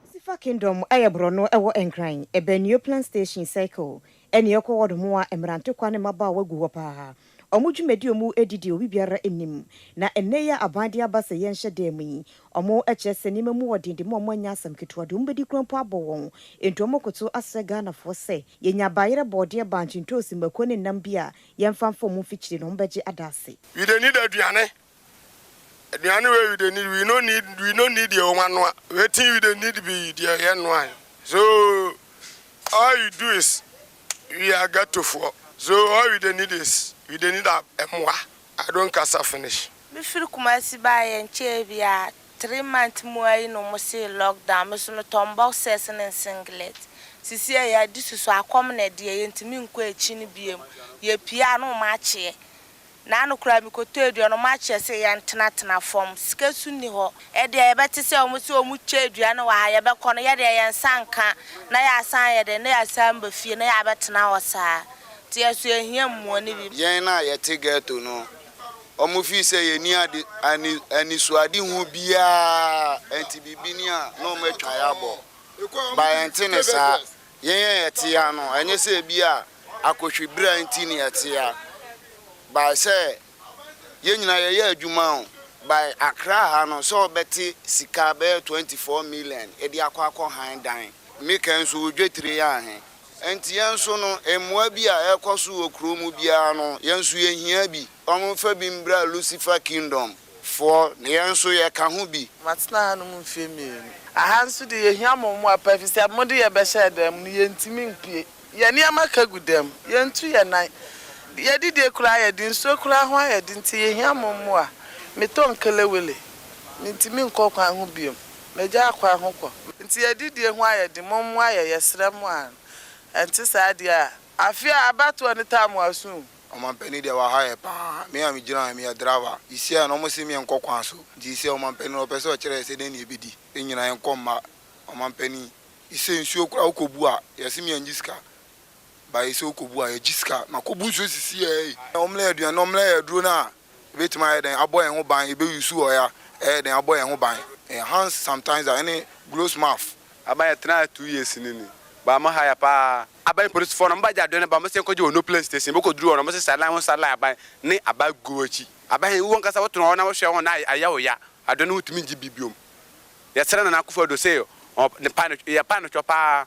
Lucifer Kingdom yɛ borɔno ɛwɔ Nkran, Ɛbɛn Neoplan Station Circle, ɛne ɛkɔ hɔnom a mmerantokwa ne mmabaawa gu hɔ paa. Wɔn dwumadi a wɔdi deɛ obi biara nnim. Na ɛnnɛ yi a aban de aba sɛ yɛnhyɛ dan mu yi, wɔkyerɛ sɛ nneɛma mu wɔ den de ma wɔn anya asɛm ketewa deɛ wɔbɛdi koraa mpo abɔ wɔn. Enti wɔkoto asrɛ Ghanafoɔ sɛ, yɛnya bayerɛ, bɔɔdeɛ, bankye, ntoosi, mako ne nam bi a yɛmfa mfɔm mfikyire no, wɔbɛgye adase. Widenidɔ aduane Aduane wei you dey need we no need we no need your own anoa wetin you dey need be deɛ yɛ noa so all you do is we are ghetto foɔ so all you dey need is you dey need a ɛmoa I don't kasa finish. Me firi Kumasi baa yɛ nkyɛɛ biaa three month mu ara yi na ɔmo see lock down me so me tɔn boxers ne singlet sisi a yɛ adi susu akɔm na ɛdeɛ yɛ ntumi nkɔ akyi no biom yɛ pie a na ɔmo akyeɛ. Naano koraa mekɔtɔ aduane ɔmo akyɛ se yɛn tena tena fam sika su nni hɔ ɛdeɛ yɛbɛte sɛ ɔmo se ɔmo kyɛ aduane wɔ ha yɛbɛkɔ no yɛdeɛ yɛn nsa nka na yɛasan ayɛ dɛn na yɛasan ba fie na yɛabɛtena hɔ saa nti yɛso yɛhia mmoa no bi. Yɛn a yɛte ghetto no ɔmo feel sɛ yɛnni ade ani anisoadehu biara nti biribi ni a na ɔmo atwa yɛabɔ but ɛnte ne saa Yɛn a yɛte yi ara no, ɛnyɛ sɛ ebia akohwibra nti na yɛte yi ara, but sɛ yɛn nyinaa yɛyɛ adwuma o, by Accra ha no, sɛ wobɛte sika bɛyɛ 24 million de akɔ akɔ han dan, me kan nso wo dwetire yɛ ahe? Nti yɛn nso no, mmoa bi a ɛrekɔ so wɔ kuro mu biara no, yɛn nso yɛhia bi. Wɔmfa bi mbra Lucifer Kingdom. foɔ na yɛn nso yɛka ho bi. Matena hanom mfeɛ mmienu. Aha nso deɛ yɛhia mo mmoa pa efisɛ mo de yɛbɛhyɛɛ dan mu no yɛntumi mpue. Yɛn nneɛma ka gu dan mu. Yɛntu yɛn nan. Deɛ adidie koraa ayɛ den. Nsuo koraa ho ayɛ den nti yɛhia mo mmoa. Metɔ nkelewele. Mentumi nkɔ kwan ho bio. Magyaa kwan ho kɔ. Nti adidie ho ayɛ den. Mommoa yɛn. Yɛsrɛ mo ara no. Ɛnte saa deɛ a, afe a abatoɔ no taa mo aso o. Ɔmanpanin deɛ waha yɛ paa, me a megyina ha yi meyɛ driver, yɛsiaɛ no wɔse me nkɔ kwan so, nti yɛsiaɛ ɔmanpanin no ɔpɛsɛ ɔkyerɛ yɛ sɛ dɛn na yɛbɛdi, yɛnyina yɛnkɔ mma ɔmanpanin, yɛsɛ nsuo koraa wokɔbu a yɛse me angye sika, but yɛsɛ wokɔbu a yɛgye sika, makɔbu nsuo sisi yɛ ei, wɔmmrɛ yɛ aduane na wɔmmrɛ yɛ aduro no a ɛbɛtumi ayɛ dɛn abɔ yɛn ho ban, yɛbɛ use ɔya ɛyɛ dɛn abɔ yɛn ho ban, enhanced sanitizer ɛne gloves mask. Aba yɛtenaa ha two years ni ni, but wɔaha yɛ paa, Aban polisifo no bɛgye adoe no ba, wɔbɛsan akogye wɔn no plane station, wokodu hɔ no wɔsesa adan ho sa lae-aban ne aban gu wɔn akyi. Aban he, wo ankasa wotena hɔ na wohwɛ wɔn na ayɛ wo ya, adoe no wontumi ngye bi biom. Yɛsrɛ Nana Akufo Addo se ne pa no, yɛ pa no twɔ paa,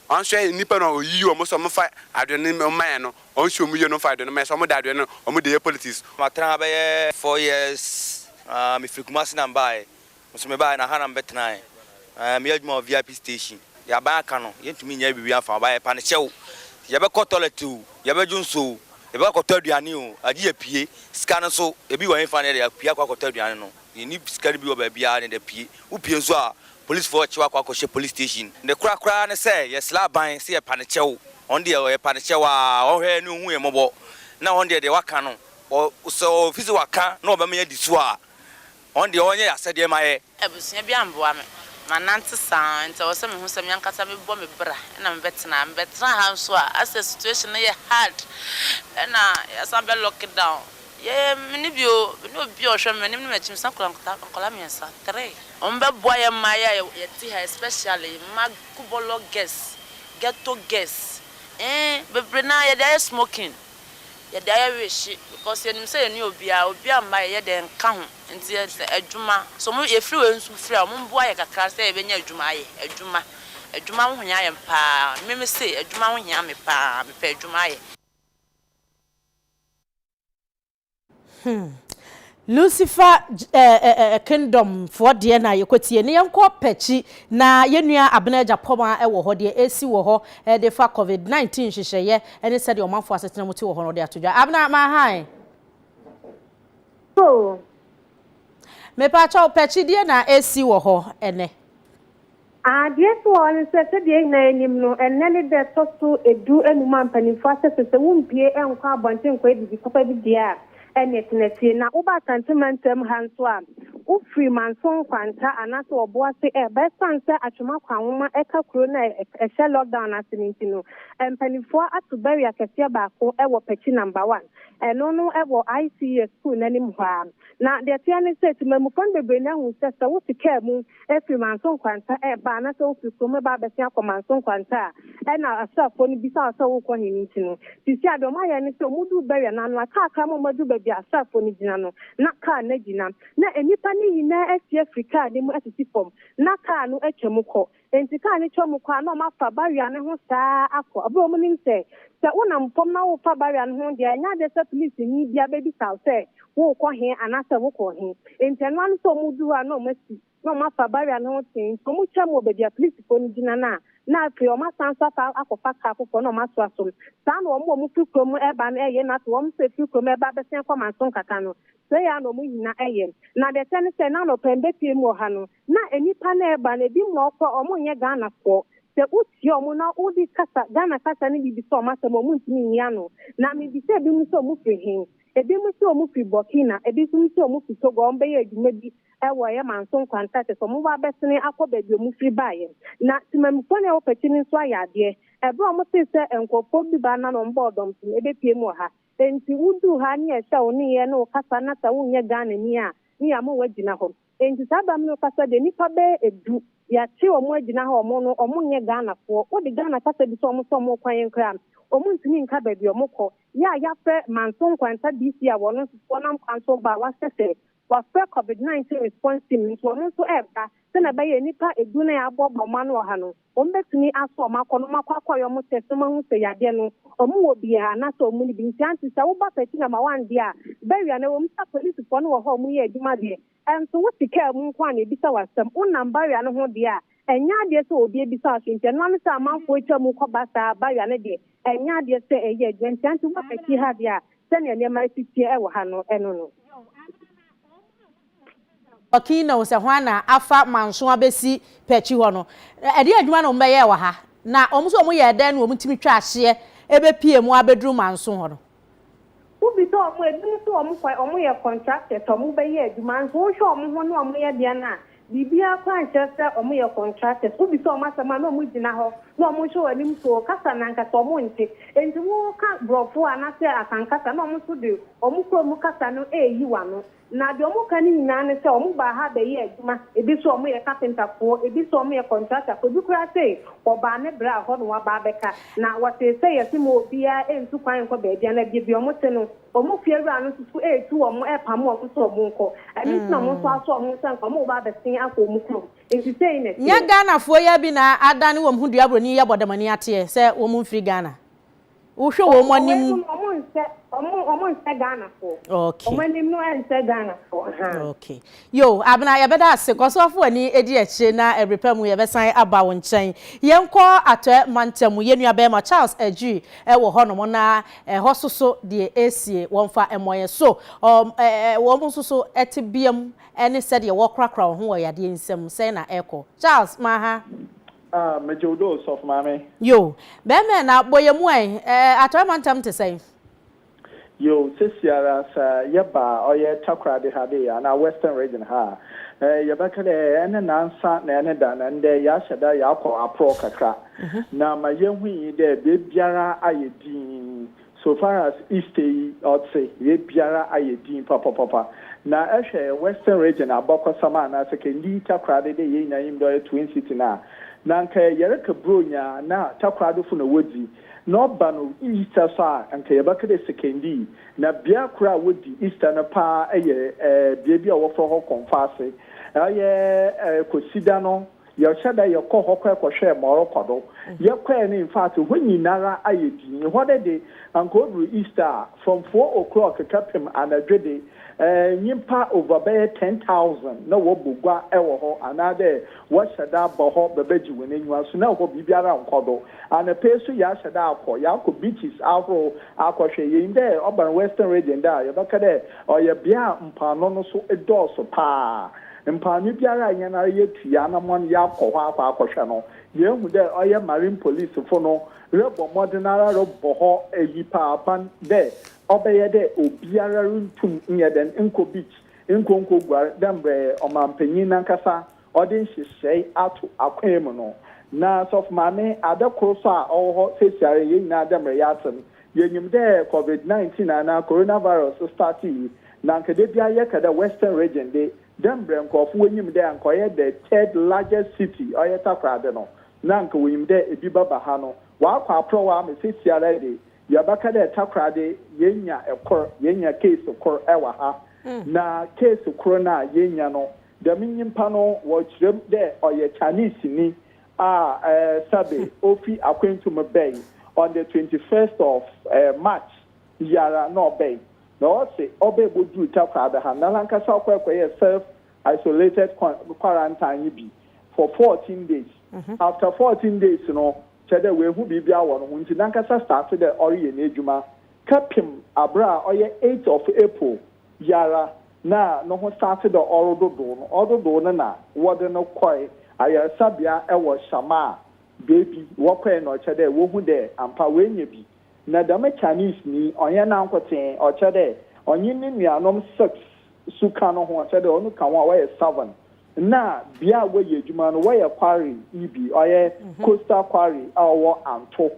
ɔnhwɛ nnipa no a ɔyiyi wɔn se wɔmfa adoe no mma yɛn no, ɔnhwɛ wɔn yie na ɔmfa adoe no mma yɛn sɛ wɔde adoe no wɔde yɛ politics. Matena ha bɛyɛ four years, mefiri Kumasi na mbaeɛ, Me nso mebaeɛ na ha na mebɛtenaeɛ. Na meyɛ adwuma wɔ VIP station. Deɛ aban aka no, yɛntumi nyɛɛ biribiara mfaa ho. Ba yɛpa no kyɛ o, yɛbɛkɔ toilet o, yɛbɛdwo nsuo o, yɛbɛkɔ akɔtɔ aduane o, agye yɛapue. Sika no nso, ebi wɔ hefa na yɛde apue akɔ akɔtɔ aduane no? Yɛnni sika no bi wɔ baabiara na yɛde apue. Wopue nso a, polisfoɔ rekye wo akɔ akɔhyɛ police station. Ne korɛ koraa ne sɛ, yɛsrɛ aban sɛ yɛpa no kyɛw. Wɔn deɛ, yɛpa no kyɛw ara, wɔnhwɛ yɛn ne wɔnhu yɛn mmɔbɔ. Na wɔn deɛ, deɛ wɔaka no, sɛ wɔfiri sɛ wɔaka na wɔbɛma yɛadi so a, Ɔn deɛ ɔnyɛ y'asɛdeɛ ma yɛ. Abusua bi amboa me ma nante saa nti ɛwɔ sɛ me hu sɛ me ankasa me bɔ me bra ɛna me bɛ tena me bɛ tena ha nso a asɛ situation no yɛ hard ɛna yasan bɛ lock down yɛ me ne bi o me ne obi a ɔhwɛ me manim ne makyi me san kura nkɔla miensa three ɔmo bɛ boa yɛ mmaa yi a yɛ te ha especially mma kubɔlɔ girls ghetto girls ee bebree naa yɛde ayɛ smoking. yɛde ayɛ wehye because yɛnim sɛ yɛne obiara obiara mma yɛ yɛdɛ nka ho nti yɛ sɛ adwuma sɛ ɔmo yɛfiri wei nso firi a ɔmo mboa yɛ kakra sɛ yɛbɛnya adwuma ayɛ adwuma adwuma ho hia yɛn paa me me se adwuma ho hia me paa mepɛ adwuma ayɛ. Hmm. Lucifer eh, kingdom foɔ deɛ na yɛkɔtie ne yɛnkɔ pɛkyi na yɛnua abena agya pɔma wɔ hɔ deɛ ɛsi wɔ hɔ de fa covid-19 nhyehyɛeɛ ne sɛdeɛ ɔmanfoɔ asetena mu te wɔ hɔ no ɔde ato dwa abena mahae mepaakyɛw pɛkyi deɛ na ɛsi wɔ hɔ ɛnɛ Adeɛ nso wɔ hɔ ne sɛ, sɛdeɛ yɛn nyinaa nim no, ɛnnɛ ne da ɛtɔ so du anum a mpanimfoɔ ahyɛ sɛ sɛ wompue nkɔ abɔnten nkɔ adidi papa bi deɛ a, ɛnneɛ tena fie. Na woba Asante mantam ha nso a, wofiri Manso Nkwanta anaasɛ Ɔboase reba, ɛsiane sɛ Atwom akwanwoma ɛka kuro no a ɛhyɛ lockdown no ase no nti no, mpanimfoɔ ato barrier kɛseɛ baako wɔ Pɛkyi Number One, ɛno no wɔ ICES sukuu no anim hɔ ara. Na deɛ ɛteɛ ne sɛ, temammufoɔ no bebree no ahu sɛ, sɛ wote kaa mu, firi Manso nkwanta ba anaasɛ wofiri kurom reba abɛsen akɔ Manso nkwanta a, ɛna asraafoɔ no bisa wo sɛ worekɔ he ne nti no. Seesei adeɛ wɔayɛ ne sɛ wɔduu Bɛria no ano a, kaa kra ma wɔaduru baabi a asraafoɔ no gyina no, na kaa no agyina. Na nnipa no nyinaa asi afiri kaa no mu asisi fam, na kaa no atwa mu kɔ. Enti kaa no twa mu kɔ a, na wɔafa Bɛria no ho saa ara akɔ, berɛ a wɔnim sɛ, sɛ wonam fam na worefa Bɛria no ho deɛ, ɛnyɛ adeɛ sɛ polisini biara bɛbisa wo sɛ worekɔ he anaasɛ wokɔ he. Nti ɛno ara ne sɛ wɔredu hɔ a na wɔasi na wɔafa barrier no ho tee nti wɔtwaam wɔ baabi a polisifoɔ no gyina no a na afei wɔasan nso afa akɔfa kaa foforɔ na wɔaso asom. Saa na wɔn a wɔfiri kurom reba no yɛ na afei wɔn nso a ɛfiri kurom reba abɛsen akɔ Manso Nkaka no, sei ara na wɔn nyina yɛ. Na deɛ ɛkyɛ ne sɛ na anɔpa yi bepie mu wɔ ha no na nnipa no reba no ebi mu a wɔkɔ a wɔnyɛ Ghanafoɔ. Sɛ wokyia wɔn na wode kasa, Ghana kasa no bi bisa wɔn asɛm a wɔntumi nyi ano. Na mebisa ebinom sɛ wɔfiri he Ebinom se wɔfi Burkina, ebi nso se wɔfi Togo a wɔbɛyɛɛ adwuma bi wɔ ɛyɛ manso nkwanta kyɛ sɛ wɔwɔ abɛsene akɔ baabi a wɔfiri baeɛ. Na temammufoɔ no a ɛwɔ Pati no nso ayɛ adeɛ. Ɛberɛ a wɔtee sɛ nkorɔfoɔ bi baa na na wɔbɔɔ dɔm so no, ɛbɛpiem wɔ ha. Enti woduu ha ne yɛhyɛ wo nneyɛɛ ne wo kasa na sɛ wonyɛ Ghanani a ne yɛama woagyina hɔ. Enti saa bɛ amene kasa deɛ nipa bɛyɛ ɛdu yɛate ɔmo agyina ha ɔmo no ɔmo nyɛ Ghana foɔ wode Ghana kasa bisa ɔmo sɛ ɔmo kwan yɛn koraa ɔmo ntumi nka baabi ɔmo kɔ yɛ a yafrɛ Manso Nkwanta DC a wɔno nso wɔnam kwan so ba a wasɛ sɛ wafrɛ covid 19 response team nso ɔmo nso ɛɛba sɛnea ɛbɛyɛ nipa ɛdu na yɛaboaboa ɔmo ano wɔ ha no. Wɔn bɛtumi asɔ wɔn akɔ na wɔn akɔ akɔ yɛ wɔn tɛst na wɔn ahu sɛ yadeɛ no wɔn wɔ bi a anaa sɛ wɔn ni bi nti anti sɛ wo ba pɛti na ma wɔn deɛ a bɛwia no ɛwɔ mu sɛ apolisifoɔ no wɔ hɔ a wɔn yɛ adwuma deɛ ɛnso wo te kaa mu nko a na ebisa wo asɛm wo nam bawia no ho deɛ a ɛnyɛ adeɛ sɛ obi abisa wo so nti ɛno ara ne sɛ amanfoɔ atwa mu kɔ ba saa bawia no deɛ ɛnyɛ adeɛ sɛ ɛyɛ adwuma nti anti wo ba pɛti ha deɛ a sɛnea nneɛma ɛsi teɛ ɛwɔ ha no ɛno no. Ɔkii na ɔsɛ hwan na afa manso abɛsi pɛ akyi hɔ no ɛdeɛ adwuma na ɔmo bɛyɛɛ wɔ ha na ɔmo nso ɔmo yɛɛ dɛn na ɔmo tumi twaa hyeɛ ɛbɛpie mu abɛduru manso hɔ no. Wo bisa ɔmo a ebinom se ɔmo kɔ ɔmo yɛ contractors ɔmo bɛyɛ adwuma nso wo hwɛ ɔmo ho ne ɔmo yɛ deɛ no a biribiara koraa nkyerɛ sɛ ɔmo yɛ contractors wo bisa ɔmo asɛm a na ɔmo gyina hɔ na ɔmo hwɛ wɔn anim so kasa na ankasa ɔmo nte enti wo ka brɔfo a na sɛ asankasa na ɔmo nso de ɔmo kurom kasa no ɛɛyi w'ano. Na deɛ wɔka no nyinaa ne sɛ wɔbaa ha bɛyɛɛ adwuma, ebi se wɔyɛ kapentafoɔ, ebi se wɔyɛ kɔntratafoɔ, ebi koraa se wɔbaa ne braa hɔ na wɔaba abɛka. Na wɔsee sɛ yɛse ma obiara ntu kwan nkɔ baabiara, na baabi a wɔte no, wɔn fie awura no nso so retu wɔn, repamo wɔn sɛ wɔnkɔ. Ɛno nti na wɔn nso asɔ wɔn sɛ anka wɔbɛba abɛsen akɔ wɔn kurom. Enti sei na ɛteɛ. Nyɛ Ghanafoɔ yi ara bi na adane wɔn ho dua buroni yi abɔdamani ateɛ sɛ wɔmfiri Ghana. Wohwɛ wɔn anim. Wɔn anim wɔn nsɛ wɔn wɔn nsɛ Ghanafoɔ. Okay. Wɔn anim no ɛnsɛ Ghanafoɔ. Ahan. Okay. Yo, Abena yɛbɛda ase. Kɔ so afo w'ani edi akyire na ɛbere pa mu yɛbɛsan aba wo nkyɛn. Yɛnkɔ Atɔɛ mantam. Yɛn nua barima Charles Adjiri ɛwɔ hɔ nom na ɛhɔ so so deɛ ɛresie wɔn fa mmɔ yɛn so. Ɔm ɛ ɛ wɔn nso so ɛte bea mu ɛne sɛdeɛ wɔrekorakora wɔn ho wɔ yadeɛ nsam sɛn na ɛrekɔ. Charles, ma ha. Ah megye wo doo sɔfo maame. Yo, bɛɛmɛɛ na bɔ yɛ mu ɛ, ɛɛ Atɔɛ mantam te sɛn? Yo, sesiara sɛ yɛ ba ɔyɛ Takoradi ha dee anaa Western Region ha a, ɛɛ yɛ bɛka dɛ ɛne nansa na ɛne da na ndɛ yɛ ahyɛ da yɛ akɔ aprɔɔ kakra. Na ma yɛ hui dɛ bɛɛbiara ayɛ dinn So far as Easte yi ɔtse yɛ biara ayɛ dzinn papapapa na ehwɛ Western region abakɔsam a na sɛ kɛndi takoradi dɛ yɛn nyinaa nyim dɛ ɔyɛ Twin City no a na nka yɛreka Buronya a na takoradofo na wodzi na ɔba no Easter so a nka yɛbɛka dɛ sekɛndi na bea kor a wodi Easter no paa yɛ ɛɛ beebi a wɔfrɛ hɔ Kɔmfoase ɔyɛ ɛɛ Kwesida no Yɛhyɛ da yɛkɔ hɔ kɔɛ kɔhwɛɛ ma ɔrekɔ do. Yɛkɔɛ no infact hɔ nyinara ayɛ dinn. Hɔ no de, anka oduru Easter a, from four o'clock kɛpem anadwo de, eh, nyimpa over bɛyɛ ten thousand na wɔbɔ gua wɔ hɔ anaadɛ wɔhyɛ da ba hɔ bɛbɛgye hɔn enyiwa. So na hɔ biribiara nnkɔ do? Anapa yi so yɛahyɛ da akɔ, yɛakɔ beaches ahorow akɔhwɛ. Yenyim dɛ ɔba no Western Region dɛ a, yɛbɛka dɛ ɔyɛ bea a mpoano no so dɔɔ so paa. Mpaano biara a hɛn ara yetu hɛn anamɔn yaakɔ hɔ akɔ akɔhwɛ no, yeehu dɛ ɔyɛ Marine polisifo no robɔ mbɔdzen ara robɔ hɔ eyipaban dɛ ɔbɛyɛ dɛ obiara runntum nnyɛ dɛn nnkɔ beach, nnkɔ nnkoguar dɛ mbrɛ ɔmampanyin nankasa ɔdze nhyehyɛɛ ato akwan mu no. Na Sɔfo Maame, adze kor so a ɔwɔ hɔ seseiara yi, hɛn nyina dɛ mbrɛ yɛatse no, yenyim dɛ Covid-19 anaa Coronavirus startee Na anka da biara yɛka dɛ Western Region de, dɛ mbrɛ nkorɔfo wonyim dɛ anka ɔyɛ the third largest city, ɔyɛ Takoradi no, na anka wonyim dɛ bi bɛba ha no, ɔakɔ aprɔw ama seseiara de, yɛbɛka dɛ Takoradi yenya kor, yenya case kor wɔ ha. Na case kor no a yenya no, dɛm nyimpa no wɔkyerɛ mu dɛ ɔyɛ Chinesenyi a sɛbe ofi akwantu mu bae on the twenty first of March. biara na ɔbɛe na ɔse ɔbɛe bɔduru Takoradi ha na nankasa ɔkɔe kɔyɛɛ self isolated quarantine yi bi for fourteen days after fourteen days no kyerɛ dɛ w'ahu biribiara wɔ no ho nti nankasa starte dɛ ɔreyɛ n'adwuma kɛpem aberɛ a ɔyɛ eight of April yi ara na no ho starte dɛ ɔrododow no ɔdodow no na wɔde no kɔe ayaresabea wɔ Shamaa baabi wɔkɔe na ɔkyerɛ dɛ wɔhu dɛ ampa w'anya bi Na dɛm Chinese nyi, ɔnnyɛ nankotsee, ɔkyerɛ dɛ ɔnye no nuanom six so ka no ho, ɔkyerɛ dɛ ɔno ka ho a wɔyɛ seven. Nna bea a wɔyɛ edwuma no, wɔyɛ quarry yi bi, ɔyɛ coastal quarry a ɔwɔ Anto.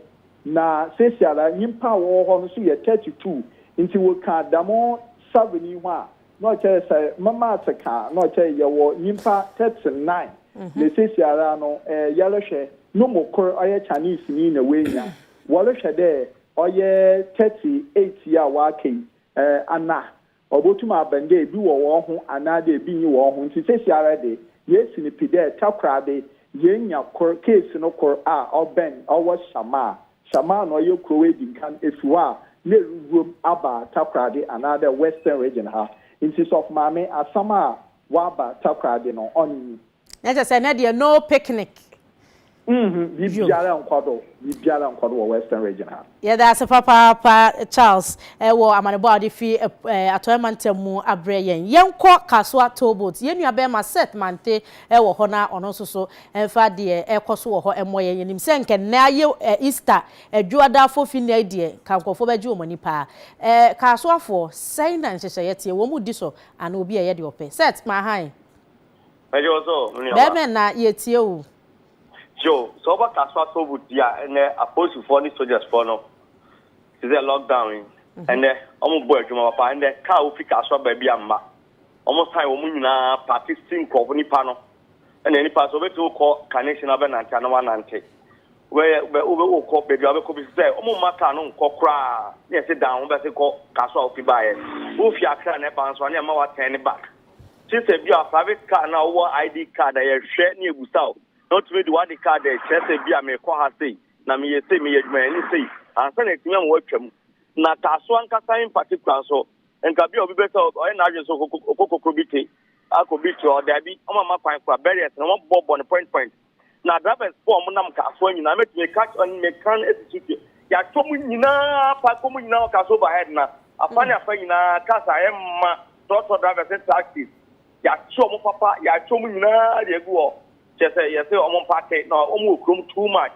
Na seseiara nyimpa a wɔwɔ hɔ no so yɛ thirty two. Ntsi wokã dɛm seven yi ho a, na ɔkyerɛ dɛ sɛ me maths kã a, na ɔkyerɛ dɛ yɛwɔ nyimpa thirty nine. Na seseiara no, yɛrohwɛ no mu kor, ɔyɛ Chinese nyi na oenya Wɔrohwɛ dɛ ɔyɛ thirty eight yi a ɔaka yi, ana obotum aben dɛ bi wɔ hɔnho anaadɛ bi nnyi hɔnho. Ntsi seseiara de, yesi no pi dɛ Takoradi yeenya kor, case no kor a ɔbɛn ɔwɔ Shamaa. Shamaa na ɔyɛ kurow edinkan efi hɔ a na eruwuram aba Takoradi anaadɛ Western Region ha. Ntsi Sɔfo Maame, asɛm a wɔaba Takoradi no, ɔnye yi. Na kyɛ sɛ ɛnɛ deɛ no picnic. Mmhmm biribiara nkɔ do biribiara nkɔ do wɔ western region ha. Yɛda ase papaapa Charles wɔ amanebɔ a wode fi Atɔeɛ mantam mu abrɛ yɛn. Yɛnkɔ Kasoa toll boat, yɛn nua bɛɛma Seth Mante wɔ hɔ na ɔno nso so mfa deɛ ɛrekɔ so wɔ hɔ mmɔ yɛn. Yɛnim sɛ nka nnɛ ayɛ Easter Dwoada Fofi nnɛ yi deɛ nka nkurɔfoɔ bɛgye wɔn ani paa. Ɛɛ Kasoafoɔ, sɛn na nhyehyɛeɛ teɛ? Wɔn mu di so anaa obi ɛyɛ deɛ ɔpɛ? Seth, ma ahan. Mɛyɛ wo sɛ o, me nuaba. Dɛbɛn na yɛtie wo? Yo, sɛ wobɛka so asɔ obu di a, ɛnnɛ apolisifoɔ ne sogyasfoɔ no, te sɛ lockdown yi, ɛnnɛ wɔn bɔ adwuma papa, ɛnnɛ kaa wofi kaa so aba bi a mma, wɔn san wɔn nyinaa paake si nkurɔfo nipa no, ɛnnɛ nipa sɛ wobɛtumi wokɔ carnation na wobɛnante ana wanante, wobɛyɛ wobɛ wobɛ wokɔ baabi a wobɛkɔ bi sɛ wɔn mma kaa no nkɔ koraa, ne ɛsi dan ho bɛsi kɔ kaa so a wofi baayɛ, wofi akra na ɛba nso a ne ɛma watɛn ne back. Gye sɛ ebia private car no a wowɔ ID card a yɛhwɛ na yɛbusa wo na wotumi de w'ade card a ɛkyerɛ sɛ ebia mekɔ ha sei na meyɛ sei, meyɛ adwumayɛni sei ansa na atumi ama woatwam. Na Taaso ankasa in particular nso, nka bi a obi bɛ sɛ ɔyɛ n'adwene sɛ ɔkɔ Kokrobite akɔ beach hɔ, daabi, wɔamma kwan koraa, barriers no wɔabobɔbobɔ no point point. Na drivers foɔ a wɔn nam car soɔ nyinaa mɛtumi aka kyerɛ wɔn mɛka no asi so deɛ yɛatwa wɔn nyinaa park wɔn nyinaa wɔ cars overhead na afa ne afa nyinaa cars a ɛmma trɔtrɔ drivers ne taxis yɛakye wɔn papa yɛatwa wɔn nyinaa deɛ agu hɔ kyerɛ sɛ yɛsɛ wɔn mpake na wɔn wɔ kurom too much.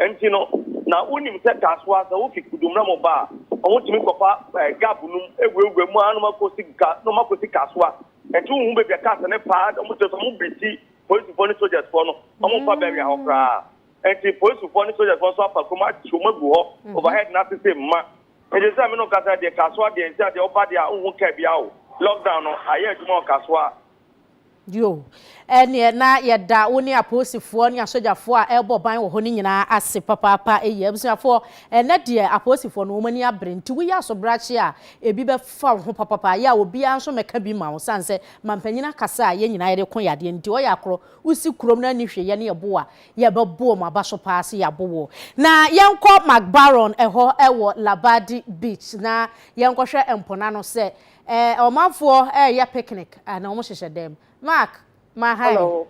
Enti no, na wonim sɛ Tasoa, sɛ wofi Kudomra mu ba a, wɔtumi kɔfa eh, gab nom awurawura mu ara nom akɔsi ka nom akɔsi Kasoa. Enti wohu baabi a cars no paa, wɔn kyerɛ sɛ wɔn beti polisifoɔ ne sogyasfoɔ no, wɔn mfa bɛwea hɔ koraa. Enti polisifoɔ ne sogyasfoɔ nso afa kurom akyɛ wɔn agu hɔ, overhead no ase sɛ mma. Enti sɛ me no kasa deɛ Kasoa deɛ nti a deɛ ɔba deɛ a wohu kaa biara o. Lockdown no ayɛ adwuma wɔ Kasoa. Yo, ɛnneɛ na yɛda wo ne apolisifoɔ ne asogyafoɔ a ɛrebɔ ban wɔ hɔ no nyinaa ase papaapa. Eyi abusuafoɔ, ɛnnɛ deɛ apolisifoɔ no wɔn ani abere, nti woyɛ asobrakye a, ebi bɛfa wo ho papaapa. Yɛ a obiara nso mmɛka bi mma wo, sane sɛ mampanyin akasa a yɛn nyinaa yɛde ko yadeɛ no nti. Ɔyɛ akorɔ, wosi kurom no anni hwee, yɛne yɛbo a, yɛbɛbo wɔn aba so paa sɛ yɛabo wo. Na yɛnkɔ Macbarron hɔ wɔ Labadi Beach na yɛnkɔhwɛ mpo no ano sɛ Eh, ɔmanfoɔ ɛɛyɛ picnic ah, na wɔn hyehyɛ dɛm. Mark, ma hi. Hello.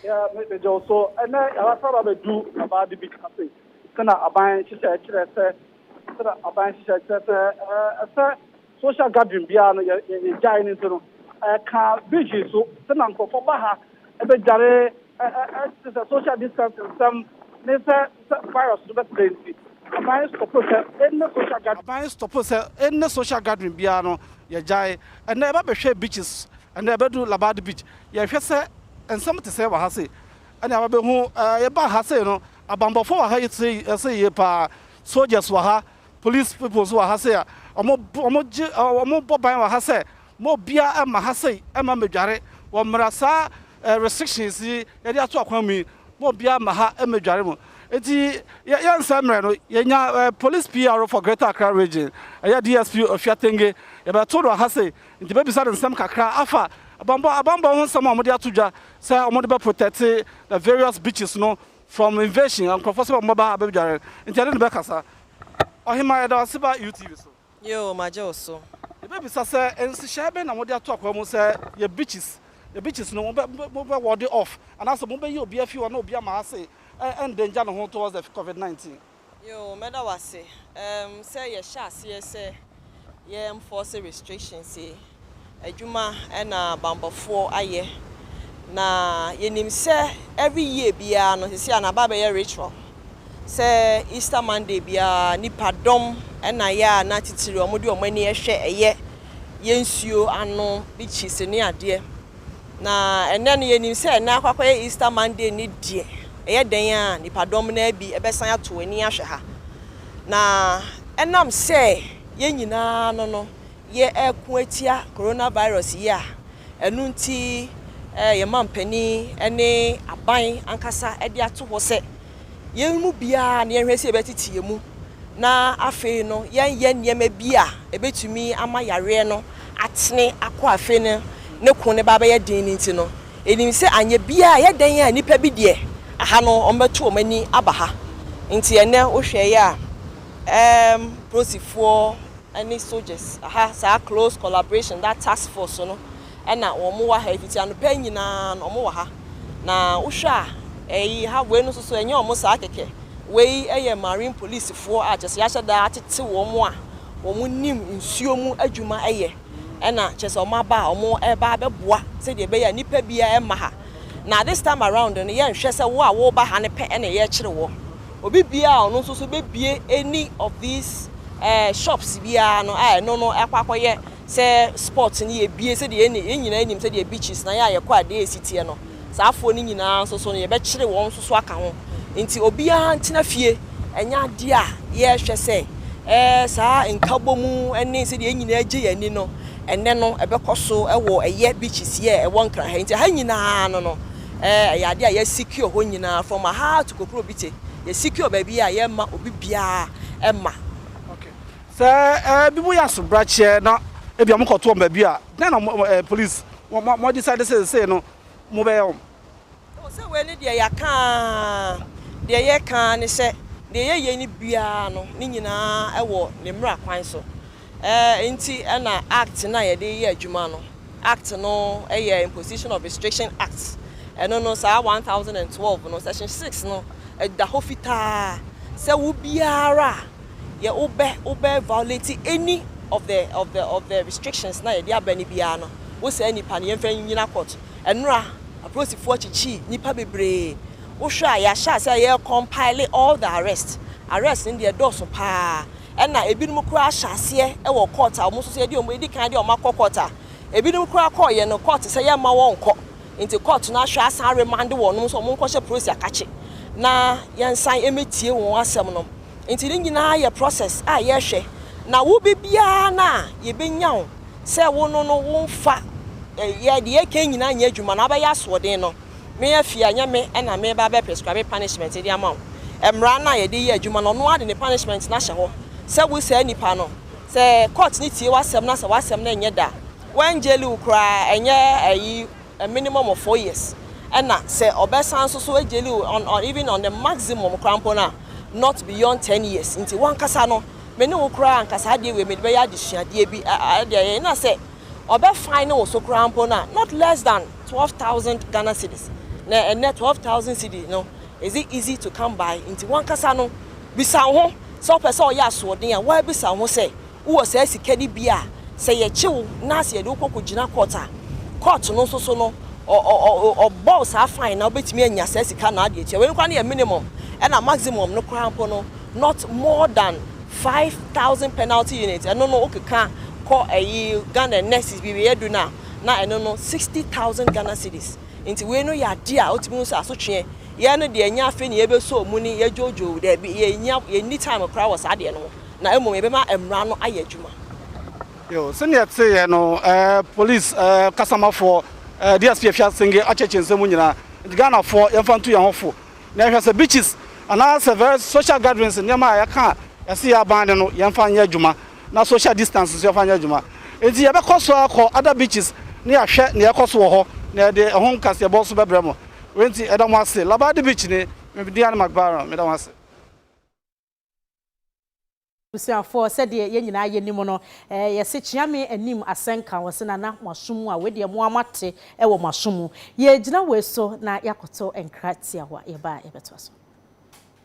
Yeah, me me gyew so. Ɛnɛ yɛasa ba bɛdu abaade bi ase. Sɛna aban nhyehyɛe kyerɛ sɛ sɛna aban nhyehyɛe kyerɛ sɛ ɛɛ ɛsɛ social gathering biara no yɛ yɛ- yɛgyae no nti no ɛka vigil so sɛna nkurɔfoɔ ba ha ɛbɛdware te sɛ social distancing nsɛm ne sɛ sɛ virus no bɛtrɛ nti, aban stɔpo sɛ any social gathering. Aban stɔpo sɛ any social gathering biara no, yɛgyae. Ɛnnɛ yɛba bɛhwɛɛ beaches, ɛnnɛ yɛbɛduru Labadi beach, yɛhwɛ sɛ nsɛm te sɛn wɔ ha sei. Ɛnna yɛba bɛhu, ɛɛ yɛbaa ha sei no, abanbɔfoɔ wɔ ha sei, ɛsɛ yie pa ara, soldiers wɔ ha, police people nso wɔ ha sei a, wɔn, wɔn gye, wɔn bɔ ban wɔ ha sɛ Mo obiara mma ha sei mma mmedware wɔ mmara saa restrictions yi yɛde ato akwan mu yi mo obiara mma ha mmedware mu nti yɛ yɛnsɛ mmerɛ no yɛnya police PRO for Greater Accra Region ɛyɛ DSP Ofia Tenge yɛbɛto no aha sei nti bɛbisa no nsɛm kakra afa abanbɔ abanbɔ ho nsɛm a wɔde ato dwa sɛ wɔde bɛ protect the various beaches no from invasion nkurɔfoɔ sɛ wɔn bɛba ha bɛdware nti yɛde no bɛkasa Ɔhemaa yɛda wo ase ba UTV so. Yoo, magye wo so. Yɛbɛbisa sɛ, Nhyehyɛe bɛn na mode ato akwaa mu sɛ yɛ beaches? Yɛ beaches no, mobɛ, mobɛ ward off anaasɛ mobɛyi obi afi hɔ na obi ama ase ɛ, endanger ne ho towards the Covid 19? Yoo, mɛda wo ase. Ɛɛm, sɛ yɛhyɛ aseɛ sɛ yɛ enforce restrictions yi Adwuma na bammɔfoɔ ayɛ na yɛnim sɛ every year biara no sisi a na aba abɛyɛ ritual sɛ Easter Monday biara nipa dɔm na yɛ a na titiri wɔn de wɔn ani ɛhwɛ ɛyɛ yɛ nsuo ano beaches ne adeɛ na ɛnɛ no yɛnim sɛ ɛnɛ akɔ akɔyɛ Easter Monday ne deɛ ɛyɛ dɛn a nipa dɔm no bi ɛbɛsan ato ani ahwɛ ha na ɛnam sɛ yɛn nyinaa no no yɛreko atia coronavirus yi a ɛno nti yɛn mampanin ne aban ankasa de ato hɔ sɛ yɛn mu biara na yɛnhwɛ sɛ yɛbɛtete yɛn mu na afei no yɛnyɛ nneɛma bi a ɛbɛtumi ama yareɛ no atene akɔ afei no ne ko ne ba bɛyɛ den no nti no ɛnim sɛ anyɛ biara ɛyɛ dɛn a nnipa bi deɛ aha no wɔbɛto wɔn ani aba ha nti ɛnɛ wohwɛeɛ a ɛɛm polisifoɔ ɛne soldiers aha saa close collaboration that task force no ɛna wɔn wɔ ha yi fiti anɔpa yi nyinaa no wɔn wɔ ha na wohwɛ a ɛyi ha wei no nso so ɛnyɛ wɔn saa kɛkɛ wei ɛyɛ marine police foɔ a kyɛsɛ yɛahyɛ daa atete wɔn a wɔn nim nsuo mu adwuma ɛyɛ ɛna kyɛsɛ wɔn aba a wɔn ɛba abɛboa sɛdeɛ ɛbɛyɛ a nipa bia ɛma ha na this time around no yɛnhwɛ sɛ wo a woba ha no pɛ ɛna yɛkyere wɔ. Obi biara a ɔno nso so bɛbue any of these eh, shops biara no a ɛno no akɔ akɔyɛ sɛ sports no yɛbie sɛdeɛ yɛne yɛn nyinaa nim sɛdeɛ beaches na yɛ a yɛkɔ adeɛ a ɛsi teɛ no saa afoɔ no nyinaa nso so no yɛbɛkyere wɔn nso so aka ho nti obiara ntena fie ɛnyɛ adeɛ a yɛhwɛ sɛ eh, saa nkabɔ mu ne sɛdeɛ yɛn nyinaa gye yɛn ani no ɛnɛ no ɛbɛkɔ so wɔ ɛyɛ beaches yɛ ɛwɔ nkra ha nti ha nyinaa no no Eh ɛyɛ adeɛ a yɛ secure hɔ nyinaa from Ahar to Kokrobite yɛ secure baabi a yɛ mma obi biara ɛmma. Ok sɛ eh bi mo yɛ asobrakyeɛ na ebi a ɔmo kɔ to wɔn baabi a dɛn na mo eh police mo mo decide sɛ sesei no mo bɛyɛ wɔn. Oh sɛ wei ne deɛ yɛaka aa deɛ yɛka aa ne sɛ deɛ yɛ yɛ ne biara no ne nyinaa ɛwɔ ne mmra kwan so Ɛɛ nti na Act no a yɛde yɛ adwuma no, Act no yɛ Imposition of Restriction Act, ɛno no saa one thousand and twelve no section six no da hɔ fitaa sɛ wo biara a yɛ wobɛ wobɛ violate any of the of the of the restrictions no a yɛde aba no biara no, wo saa nipa no yɛmfa nnyina court. Ɛnora apolisifoɔ kyekye nipa bebree, wohwɛ a yɛahyɛ aseɛ a yɛ compile all the arrest, arrest no deɛ ɛdɔɔso paa. ɛna ebinom koraa ahyɛ aseɛ wɔ court a wɔn nso so yɛde wɔn edi kan de wɔn akɔ court a ebinom koraa kɔɔyɛ no court sɛ yɛmma wɔn nkɔ nti court no ahwɛ asan remande wɔn nso wɔn nkɔhyɛ polisi akakye na yɛnsan emetie wɔn asɛm no nti ne nyinaa yɛ process a yɛhwɛ na wo bi biara no a yɛbɛnya wo sɛ wo no no wo nfa yɛ deɛ yɛka nyinaa nyɛ adwuma na abɛyɛ asoɔden no me afie a ɛnyɛ me na mereba abɛ prescribe punishment de ama wo. Mmara no a yɛde yɛ adwuma no ɔno ara de ne punishment no ahyɛ hɔ sɛ wo saa nipa no sɛ court no tie w'asɛm na sɛ w'asɛm no nyɛ da a wɔn jail wo koraa ɛnyɛ ayi a minimum of four years ɛna sɛ ɔbɛsan nso so jail wo on on even on the maximum koraa mpo no a not beyond ten years nti w'ankasa no me ne wo koraa ankasa adeɛ wei mede bɛyɛ adesuadeɛ bi ɛdeɛ yɛn na sɛ ɔbɛ fine ne wo so koraa mpo no a not less than twelve thousand Ghana cedis na ɛnnɛ twelve thousand cedi no is it easy to come by nti wankasa no bisa wo ho sɛ wopɛ sɛ ɔyɛ asoɔden a woabisa wo ho sɛ wowɔ saa sika no bi a sɛ yɛkye wo na sɛ yɛde wo kɔ kɔgyina court a court no nso so no ɔ ɔ ɔ ɔbɔ wo saa fine na wobɛtumi anya saa sika no ade atua wei no koraa no yɛ minimum ɛna maximum no koraa mpo no not more than five thousand penalty unit ɛno no wokeka kɔ ɛyi Ghana nurses biribi yɛ du no a na ɛno no sixty thousand Ghana cedis nti wei no yɛ adeɛ a wotumi hu sɛ asotweɛ yɛn no deɛ ɛnyɛ afei na yɛbɛsɔ mu ne yɛdwoodwoo daabi yɛnya yɛnni time koraa wɔ saa adeɛ no ho na mmom yɛbɛma mmara no ayɛ adwuma. Yo, sɛnea ɛteeɛ no, eh, police eh, kasamafoɔ eh, DSP afi asenge akyɛkyɛ nsɛm mu nyinaa. Nti Ghanafoɔ yɛmfa ntu yɛn ho fo na yɛhwɛ sɛ beaches anaasɛ very social gatherings nneɛma a yɛka a ɛse yɛ aban ne no yɛmfa nyɛ adwuma na social distance nso yɛmfa nyɛ adwuma. Enti yɛbɛkɔ so akɔ other beaches na yɛahwɛ nea ɛrekɔ so wɔ hɔ na yɛde ɛho nkaseɛbɔ nso bɛbrɛ mo. Wei nti, yɛda mo ase. Labadi Beach ni, me din ane McBaron. Meda mo ase. Abusuafoɔ, sɛdeɛ yɛn nyinaa yɛnim no, yɛse Kyeame anim asɛnka, wɔse Nana mo aso mu a, wei deɛ mo ara moate wɔ mo aso mu. Yɛregyina wei so na yɛakoto nkra tiawa. Yɛba a, yɛbɛtoa so.